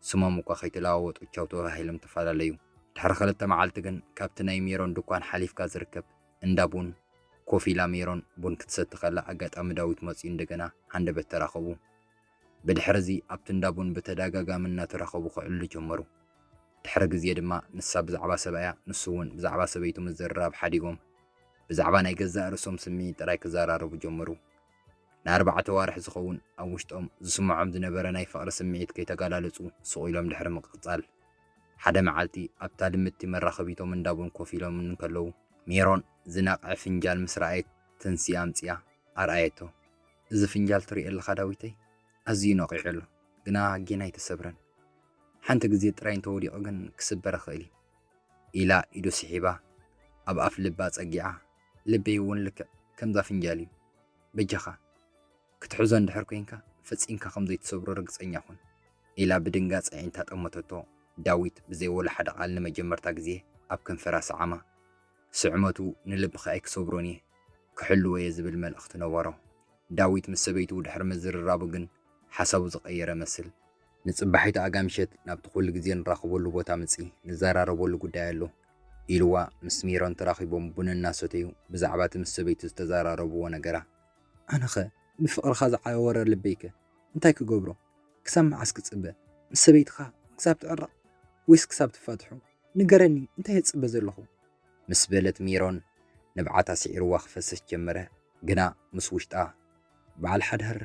[SPEAKER 1] ስሞም እኳ ከይተለዋወጡ ቻው ተበሃሂሎም ተፈላለዩ። ድሕሪ ክልተ መዓልቲ ግን ካብቲ ናይ ሜሮን ድኳን ሓሊፍካ ዝርከብ እንዳ ቡን ኮፍ ኢላ ሜሮን ቡን ክትሰቲ ከላ ኣጋጣሚ ዳዊት መጺኡ እንደገና ሃንደበት ተራኸቡ። ብድሕርዚ ኣብቲ እንዳ ቡን ብተደጋጋሚ እናተራኸቡ ክዕልሉ ጀመሩ። ድሕሪ ግዜ ድማ ንሳ ብዛዕባ ሰብኣያ ንሱ እውን ብዛዕባ ሰበይቱ ምዝርራብ ሓዲጎም ብዛዕባ ናይ ገዛእ ርእሶም ስምዒት ጥራይ ክዘራረቡ ጀመሩ። ንኣርባዕተ ኣዋርሕ ዝኸውን ኣብ ውሽጦም ዝስምዖም ዝነበረ ናይ ፍቕሪ ስምዒት ከይተገላለጹ ስቕ ኢሎም ድሕሪ ምቅጻል ሓደ መዓልቲ ኣብታ ልምድቲ መራኸቢቶም እንዳ ቡን ኮፍ ኢሎም እንከለዉ ሜሮን ዝነቕዐ ፍንጃል ምስ ረኣየት ትንሲ ኣምጺኣ ኣርኣየቶ። እዚ ፍንጃል ትሪኦ ኣለኻ ዳዊተይ ኣዝዩ ነቒዑ ኣሎ ግና ጌና ኣይተሰብረን ሓንቲ ግዜ ጥራይ እንተወዲቑ ግን ክስበር ይኽእል እዩ ኢላ ኢዱ ስሒባ ኣብ ኣፍ ልባ ጸጊዓ ልበይ እውን ልክዕ ከምዛ ፍንጃል እዩ በጃኻ ክትሕዞ እንድሕር ኮንካ ፈጺምካ ከም ዘይትሰብሮ ርግጸኛ ኩን ኢላ ብድንጋጽ ኣዒንታ ጠመተቶ ዳዊት ብዘይ ወላ ሓደ ቃል ንመጀመርታ ግዜ ኣብ ከንፈራ ሰዓማ ስዕመቱ ንልብኺ ኣይክሰብሮን እየ፣ ክሕልዎ እየ ዝብል መልእኽቲ ነበሮ። ዳዊት ምስ ሰበይቱ ድሕሪ ምዝርራቡ ግን ሓሳቡ ዝቐየረ መስል። ንጽባሒቱ ኣጋምሸት ናብቲ ኩሉ ግዜ ንራኸበሉ ቦታ ምጺ፣ ንዘራረበሉ ጉዳይ ኣሎ፣ ኢሉዋ ምስ ሜሮን ተራኺቦም ቡን እናሰተዩ ብዛዕባ እቲ ምስ ሰበይቱ ዝተዘራረብዎ ነገራ። ኣነኸ ብፍቕርኻ ዝዓወረ ልበይከ እንታይ ክገብሮ? ክሳብ መዓስ ክጽበ? ምስ ሰበይትኻ ክሳብ ትዕረቕ ወይስ ክሳብ ትፋትሑ? ንገረኒ እንታይ እጽበ ዘለኹ? ምስ በለት ሜሮን ንብዓታ ስዒርዋ ክፈስስ ጀመረ። ግና ምስ ውሽጣ በዓል ሓዳር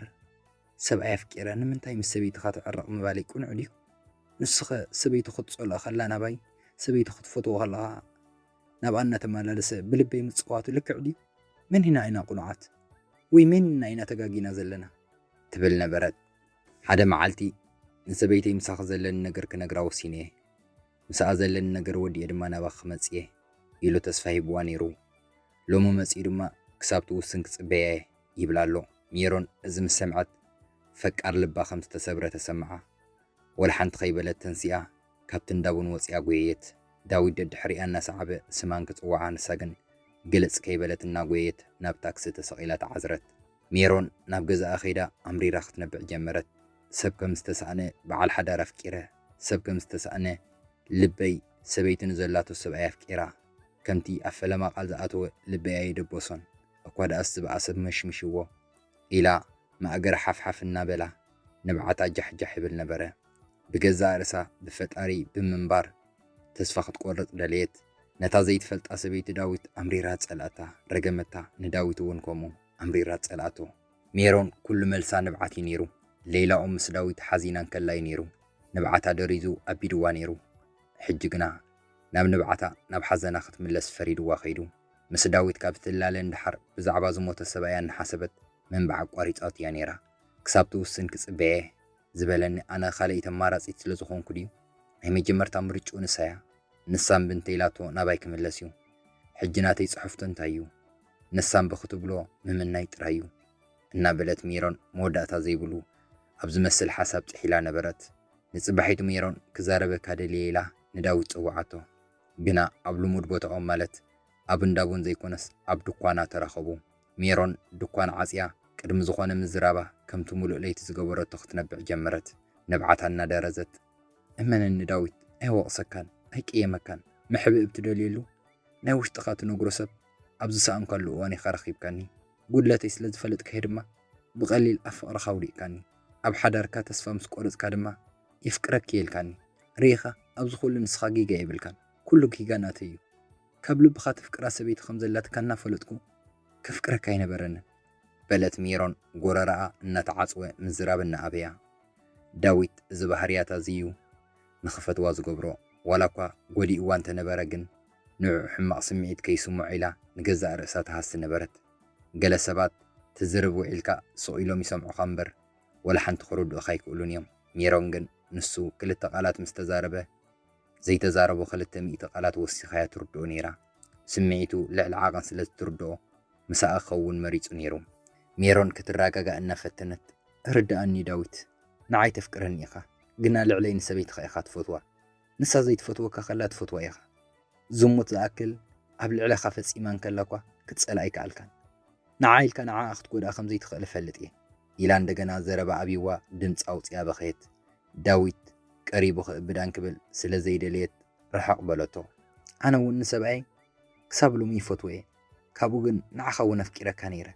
[SPEAKER 1] ሰብኣይ ኣፍቂረ ንምንታይ ምስ ሰበይትኻ ትዕረቕ ምባለይ ቅኑዕ ድዩ? ንሱኸ ሰበይቱ ክትጸልኦ ከላ ናባይ፣ ሰበይቱ ክትፈትዎ ከለኻ ናብኣ እናተመላለሰ ብልበይ ምጽዋቱ ልክዕ ድዩ? መን ኢና ኢና ቅኑዓት? ወይ መን ኢና ኢና ተጋጊና ዘለና? ትብል ነበረት። ሓደ መዓልቲ ንሰበይተይ ምሳኺ ዘለኒ ነገር ክነግራ ወሲነ'የ። ምስኣ ዘለኒ ነገር ወዲኤ ድማ ናባኺ ክመጽእ'የ ኢሉ ተስፋ ሂብዋ ነይሩ። ሎሚ መጺኡ ድማ ክሳብ ትውስን ክጽበያ'የ ይብላ ኣሎ። ሜሮን እዚ ምስ ሰምዐት ፈቃር ልባ ከም ዝተሰብረ ተሰምዓ። ወላ ሓንቲ ከይበለት ተንሲኣ ካብቲ እንዳ ቡን ወጺኣ ጎየየት። ዳዊት ደድሕሪኣ እናሰዓበ ስማ እንክጽውዓ ንሳ ግን ግልጽ ከይበለት እናጎየየት ናብ ታክሲ ተሰቒላ ተዓዝረት። ሜሮን ናብ ገዛኣ ከይዳ ኣምሪራ ክትነብዕ ጀመረት። ሰብ ከም ዝተሳእነ በዓል ሓዳር ኣፍቂረ፣ ሰብ ከም ዝተሳእነ ልበይ ሰበይቲ ንዘላቶ ሰብኣይ ኣፍቂራ፣ ከምቲ ኣብ ፈለማ ቃል ዝኣተወ ልበይ ኣየደበሶን፣ እኳ ደኣስ ዝበኣሰ ብመሽምሽዎ። ኢላ ማእገራ ሓፍሓፍ እናበላ ንብዓታ ጃሕጃሕ ይብል ነበረ። ብገዛእ ርእሳ ብፈጣሪ ብምንባር ተስፋ ክትቆርጽ ደለየት። ነታ ዘይትፈልጣ ሰበይቲ ዳዊት ኣምሪራ ጸልኣታ፣ ረገመታ፣ ንዳዊት እውን ከምኡ። ኣምሪራ ትጸልኣቶ። ሜሮን ኩሉ መልሳ ንብዓት እዩ ነይሩ። ሌይላ ኦም ምስ ዳዊት ሓዚና እንከላ እዩ ነይሩ ንብዓታ ደሪዙ ኣቢድዋ ነይሩ። ሕጂ ግና ናብ ንብዓታ ናብ ሓዘና ክትምለስ ፈሪድዋ ከይዱ። ምስ ዳዊት ካብ እትላለ ንደሓር ብዛዕባ ዝሞተ ሰብኣያ እናሓሰበት ምንባዕ ኣቋሪጻቶ እያ ነይራ። ክሳብ ትውስን ክጽበ እየ። ዝበለኒ ኣነ ካልኣይቲ ኣማራጺት ስለ ዝኾንኩ ድዩ? ናይ መጀመርታ ምርጭኡ ንሳ እያ። ንሳ እምቢ እንተ ኢላቶ ናባይ ክምለስ እዩ። ሕጂ ናተይ ጽሑፍቶ እንታይ እዩ? ንሳ እምቢ ክትብሎ ምምናይ ጥራይ እዩ። እናበለት ሜሮን መወዳእታ ዘይብሉ ኣብ ዝመስል ሓሳብ ጥሒላ ነበረት። ንጽባሒቱ ሜሮን ክዛረበካ ደልየ ኢላ ንዳዊት ጸውዓቶ። ግና ኣብ ልሙድ ቦታኦም ማለት ኣብ እንዳ ቡን ዘይኮነስ ኣብ ድኳና ተራኸቡ። ሜሮን ድኳን ዓጽያ ቅድሚ ዝኾነ ምዝራባ ከምቲ ምሉእ ለይቲ ዝገበረቶ ክትነብዕ ጀመረት። ንብዓታ እናደረዘት። እመነኒ ዳዊት ኣይወቕሰካን ኣይቅየመካን። መሕብእብ ትደልየሉ ናይ ውሽጥኻ ትነግሮ ሰብ ኣብ ዝሰኣንካሉ እዋን ኢኻ ረኺብካኒ፣ ጉድለተይ ስለ ዝፈለጥካዮ ድማ ብቐሊል ኣብ ፍቕርኻ ኣውዲቕካኒ፣ ኣብ ሓዳርካ ተስፋ ምስ ቆረጽካ ድማ የፍቅረኪ'የ ኢልካኒ፣ ርኢኻ ኣብዚ ኩሉ ንስኻ ጌጋ የብልካን፣ ኩሉ ጌጋ ናተይ'ዩ፣ ካብ ልብኻ ተፍቅራ ሰበይቲ ከም ዘላትካ እናፈለጥኩ ከፍቅረካ ኣይነበረንን። በለት ሜሮን ጎረረኣ እናተዓጽወ ምዝራብ እናኣበያ። ዳዊት እዚ ባህርያታ'ዚ'ዩ ንኽፈትዋ ዝገብሮ፣ ዋላ'ኳ ጎዲእዋ እንተነበረ ግን ንዕኡ ሕማቕ ስምዒት ከይስምዖ ኢላ ንገዛእ ርእሳ ትሃሲ ነበረት። ገለ ሰባት ትዝርብ ውዒልካ ስቕ ኢሎም ይሰምዑኻ እምበር ወላ ሓንቲ ክርድኡኻ ኣይክእሉን እዮም። ሜሮን ግን ንሱ ክልተ ቃላት ምስ ተዛረበ ዘይተዛረቦ ክልተ ሚእቲ ቃላት ወሲኻ እያ ትርድኦ ነይራ። ስምዒቱ ልዕሊ ዓቐን ስለ እትርድኦ ምሳኣ ክኸውን መሪጹ ነይሩ። ሜሮን ክትረጋጋእ እናፈተነት ርድኣኒ ዳዊት፣ ንዓይ ተፍቅረኒ ኢኻ ግና ልዕለይ ንሰበይትኻ ኢኻ ትፈትዋ። ንሳ ዘይትፈትወካ ከላ ትፈትዋ ኢኻ። ዝሙት ዝኣክል ኣብ ልዕለኻ ፈጺማ እንከላ'ኳ ክትጸልኣ ኣይከኣልካን። ንዓ ኢልካ ንዓኣ ክትጎድኣ ከም ዘይትኽእል እፈልጥ እየ። ኢላ እንደገና ዘረባ ኣብዩዋ ድምጺ ኣውጺኣ በኸየት። ዳዊት ቀሪቡ ክእብዳ እንክብል ስለ ዘይደለየት ርሕቕ በለቶ። ኣነ እውን ንሰብኣየይ ክሳብ ሎሚ ይፈትዎ እየ። ካብኡ ግን ንዓኻ እውን ኣፍቂረካ ነይረ።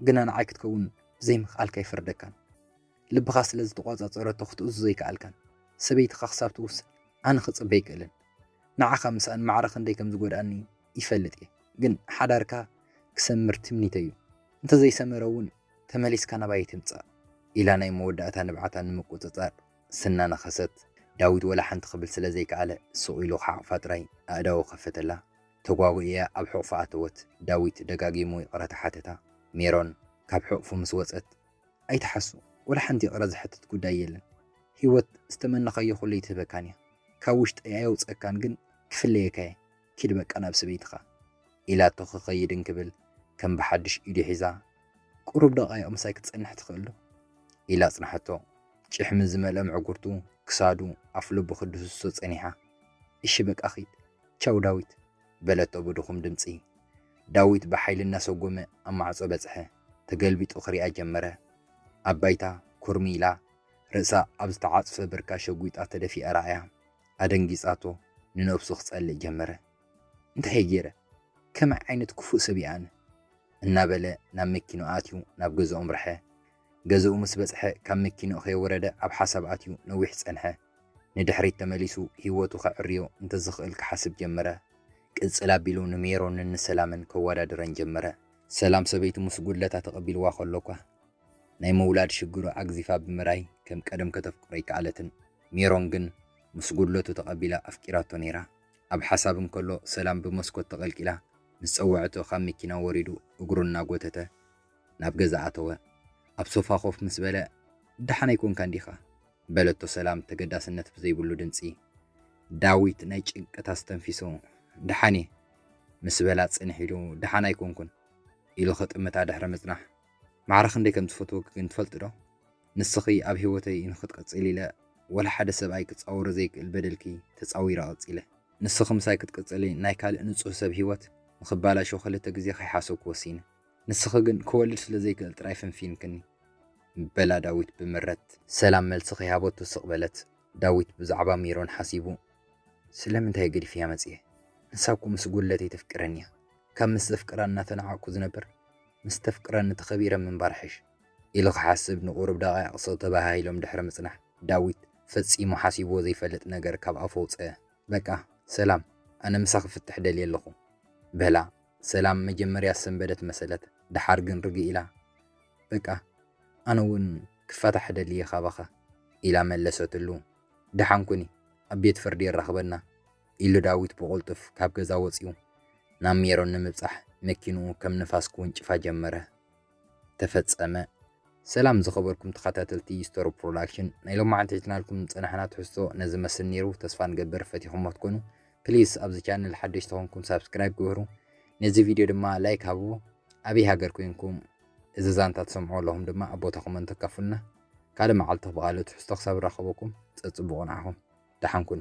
[SPEAKER 1] ግና ንዓይ ክትከውን ብዘይምኽኣልካ ኣይፈርደካን። ልብኻ ስለ ዝተቖጻጸረቶ ክትእዝዞ ኣይከኣልካን። ሰበይትኻ ክሳብ ትውስን ኣነ ክጽበ ኣይክእልን። ንዓኻ ምስኣን ማዕረ ክንደይ ከም ዝጎድኣኒ ይፈልጥ እየ። ግን ሓዳርካ ክሰምር ትምኒተይ'ዩ። እንተ ዘይሰመረ'ውን ተመሊስካ ናባይ ኣይትምጻእ። ኢላ ናይ መወዳእታ ንብዓታ ንምቁጽጻር ስናነኸሰት፣ ዳዊት ወላ ሓንቲ ክብል ስለ ዘይከኣለ ስቕ ኢሉ ክሓቕፋ ጥራይ ኣእዳዉ ከፈተላ። ተጓጒእያ ኣብ ሕቑፋ ኣተወት። ዳዊት ደጋጊሙ ይቕረታ ሓተታ። ሜሮን ካብ ሕቑፉ ምስ ወጸት፣ ኣይትሓሱ ወላ ሓንቲ ይቅረ ዝሐትት ጉዳይ የለን ሂወት ዝተመነካዮ ኩሉ ኣይትህበካን እያ ካብ ውሽጠይ ኣየውፀካን ግን ክፍለየካ እየ ኪድ በቃ ናብ ሰበይትካ ኢላቶ ክከይድ እንክብል ከም ብሓዱሽ ኢዱ ሒዛ ቁሩብ ደቃይቅ ምሳይ ክትፀንሕ ትክእል ዶ ኢላ ኣፅንሓቶ ጭሕሚ ዝመልኦ ምዕጉርቱ ክሳዱ ኣፍልቡ ክድህስሶ ፀኒሓ እሺ በቃ ኪድ ቻው ዳዊት በለቶ ብድኩም ድምፂ ዳዊት ብሓይሊ እናሰጎመ ኣብ ማዕፆ በፅሐ። ተገልቢጡ ክሪኣ ጀመረ። ኣብ ባይታ ኩርምይ ኢላ ርእሳ ኣብ ዝተዓጽፈ ብርካ ሸጒጣ ተደፊኣ ረኣያ። ኣደንጊጻቶ ንነብሱ ክጸልእ ጀመረ። እንታይ'የ ጌረ? ከመይ ዓይነት ክፉእ ሰብ'የ ኣነ? እናበለ ናብ መኪንኡ ኣትዩ ናብ ገዝኡ ኣምርሐ። ገዝኡ ምስ በጽሐ ካብ መኪንኡ ከይወረደ ኣብ ሓሳብ ኣትዩ ነዊሕ ጸንሐ። ንድሕሪት ተመሊሱ ህይወቱ ከዐርዮ እንተዝኽእል ክሓስብ ጀመረ። ቅጽል ኣቢሉ ንሜሮንን ንሰላምን ከወዳድረን ጀመረ። ሰላም ሰበይቱ ምስ ጉድለታ ተቐቢልዋ ከሎ'ኳ፣ ናይ ምውላድ ሽግሩ ኣግዚፋ ብምርኣይ ከም ቀደም ከተፍቅሮ ኣይከኣለትን። ሜሮን ግን ምስ ጉድለቱ ተቐቢላ ኣፍቂራቶ ነይራ። ኣብ ሓሳብ እንከሎ ሰላም ብመስኮት ተቐልቂላ ምስ ጸወዐቶ ካብ መኪና ወሪዱ እግሩ እናጎተተ ናብ ገዛ ኣተወ። ኣብ ሶፋ ኮፍ ምስ በለ፣ ደሓን ኣይኮንካን ዲኻ? በለቶ ሰላም ተገዳስነት ብዘይብሉ ድምጺ። ዳዊት ናይ ጭንቀት ኣስተንፊሱ፣ ደሓን እየ። ምስ በላ ጽንሕ ኢሉ፣ ደሓን ኣይኮንኩን። ኢሉ ክጥምታ ድሕሪ ምጽናሕ። ማዕረ ክንደይ ከም ዝፈትወኪ ግን ትፈልጢዶ? ንስኺ ኣብ ህይወተይ ንኽትቅጽሊ ኢለ ወላ ሓደ ሰብኣይ ክጻወሮ ዘይክእል በደልኪ ተጻዊረ ቀጺለ። ንስኺ ምሳይ ክትቅጽሊ ናይ ካልእ ንጹህ ሰብ ህይወት ንኽባላሾ ክልተ ግዜ ከይሓሰብኩ ወሲነ። ንስኺ ግን ክወልድ ስለ ዘይክእል ጥራይ ፈንፊንክኒ በላ ዳዊት ብምረት። ሰላም መልሲ ከይሃበቶ ስቕ በለት። ዳዊት ብዛዕባ ሜሮን ሓሲቡ። ስለምንታይ'የ ገዲፈያ መጺኤ? ንሳ እኮ ምስ ጉድለተይ ተፍቅረኒ'ያ። ካብ ምስ ዘፍቅራ እናተናዓቕኩ ዝነብር ምስ ተፍቅረኒ ተኸቢረ ምንባር ሕሽ። ኢሉ ክሓስብ ንቑሩብ ደቓይቕ ስቕ ተበሃሂሎም ድሕሪ ምጽናሕ። ዳዊት ፈጺሙ ሓሲብዎ ዘይፈልጥ ነገር ካብ ኣፉ ኣውጸኣ። በቃ ሰላም ኣነ ምሳኺ ክፍትሕ ደልየ ኣለኹ በላ። ሰላም መጀመርያ ሰንበደት መሰለት ደሓር ግን ርግእ ኢላ በቃ ኣነ ውን ክፋታሕ እደሊ እየ ካባኻ ኢላ መለሰትሉ። ደሓን ኩኒ ኣብ ቤት ፍርዲ የራኽበና ኢሉ ዳዊት ብቑልጡፍ ካብ ገዛ ወጽዩ ናብ ሜሮን ንምብጻሕ መኪንኡ ከም ንፋስ ክውንጭፋ ጀመረ። ተፈጸመ። ሰላም ዝኸበርኩም ተኸታተልቲ ስቶሪ ፕሮዳክሽን ናይ ሎማዓንቲ ሒዝናልኩም ዝጸናሕና ትሕዝቶ ነዚ መስል ኔሩ ተስፋ ንገብር ፈቲኹሞ ትኮኑ ፕሊስ ኣብዚ ቻነል ሓደሽ ተኾንኩም ሳብስክራይብ ግበሩ ነዚ ቪድዮ ድማ ላይክ ሃቡ ኣበይ ሃገር ኮይንኩም እዚ ዛንታ ትሰምዑ ኣለኹም ድማ ኣብ ቦታ ኮመንት ተካፍሉና ካልእ መዓልቲ ብቃልእ ትሕዝቶ ክሳብ ንራኸበኩም ጸጽቡቑ ንዓኹም ደሓን ኩኑ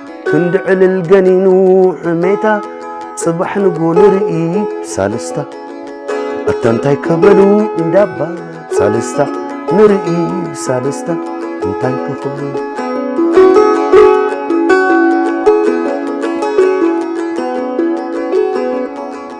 [SPEAKER 2] ክንዲ ዕልል ገኒኑ ሕሜታ ጽባሕ ንጎ ንርኢ ሳልስታ ኣታ እንታይ ከበሉ እንዳባ ሳልስታ ንርኢ ሳልስታ እንታይ ክኽብሉ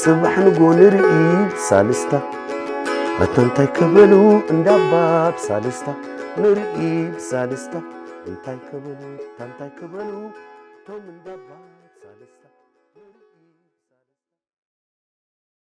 [SPEAKER 2] ጽባሕ ንጎ ንርኢ ብሳልስታ መታ እንታይ ክብሉ እንዳባ ብሳልስታ ንርኢ ብሳልስታ እንታይ ክብሉ እንታይ ክብሉ ቶም እንዳባ ብሳልስታ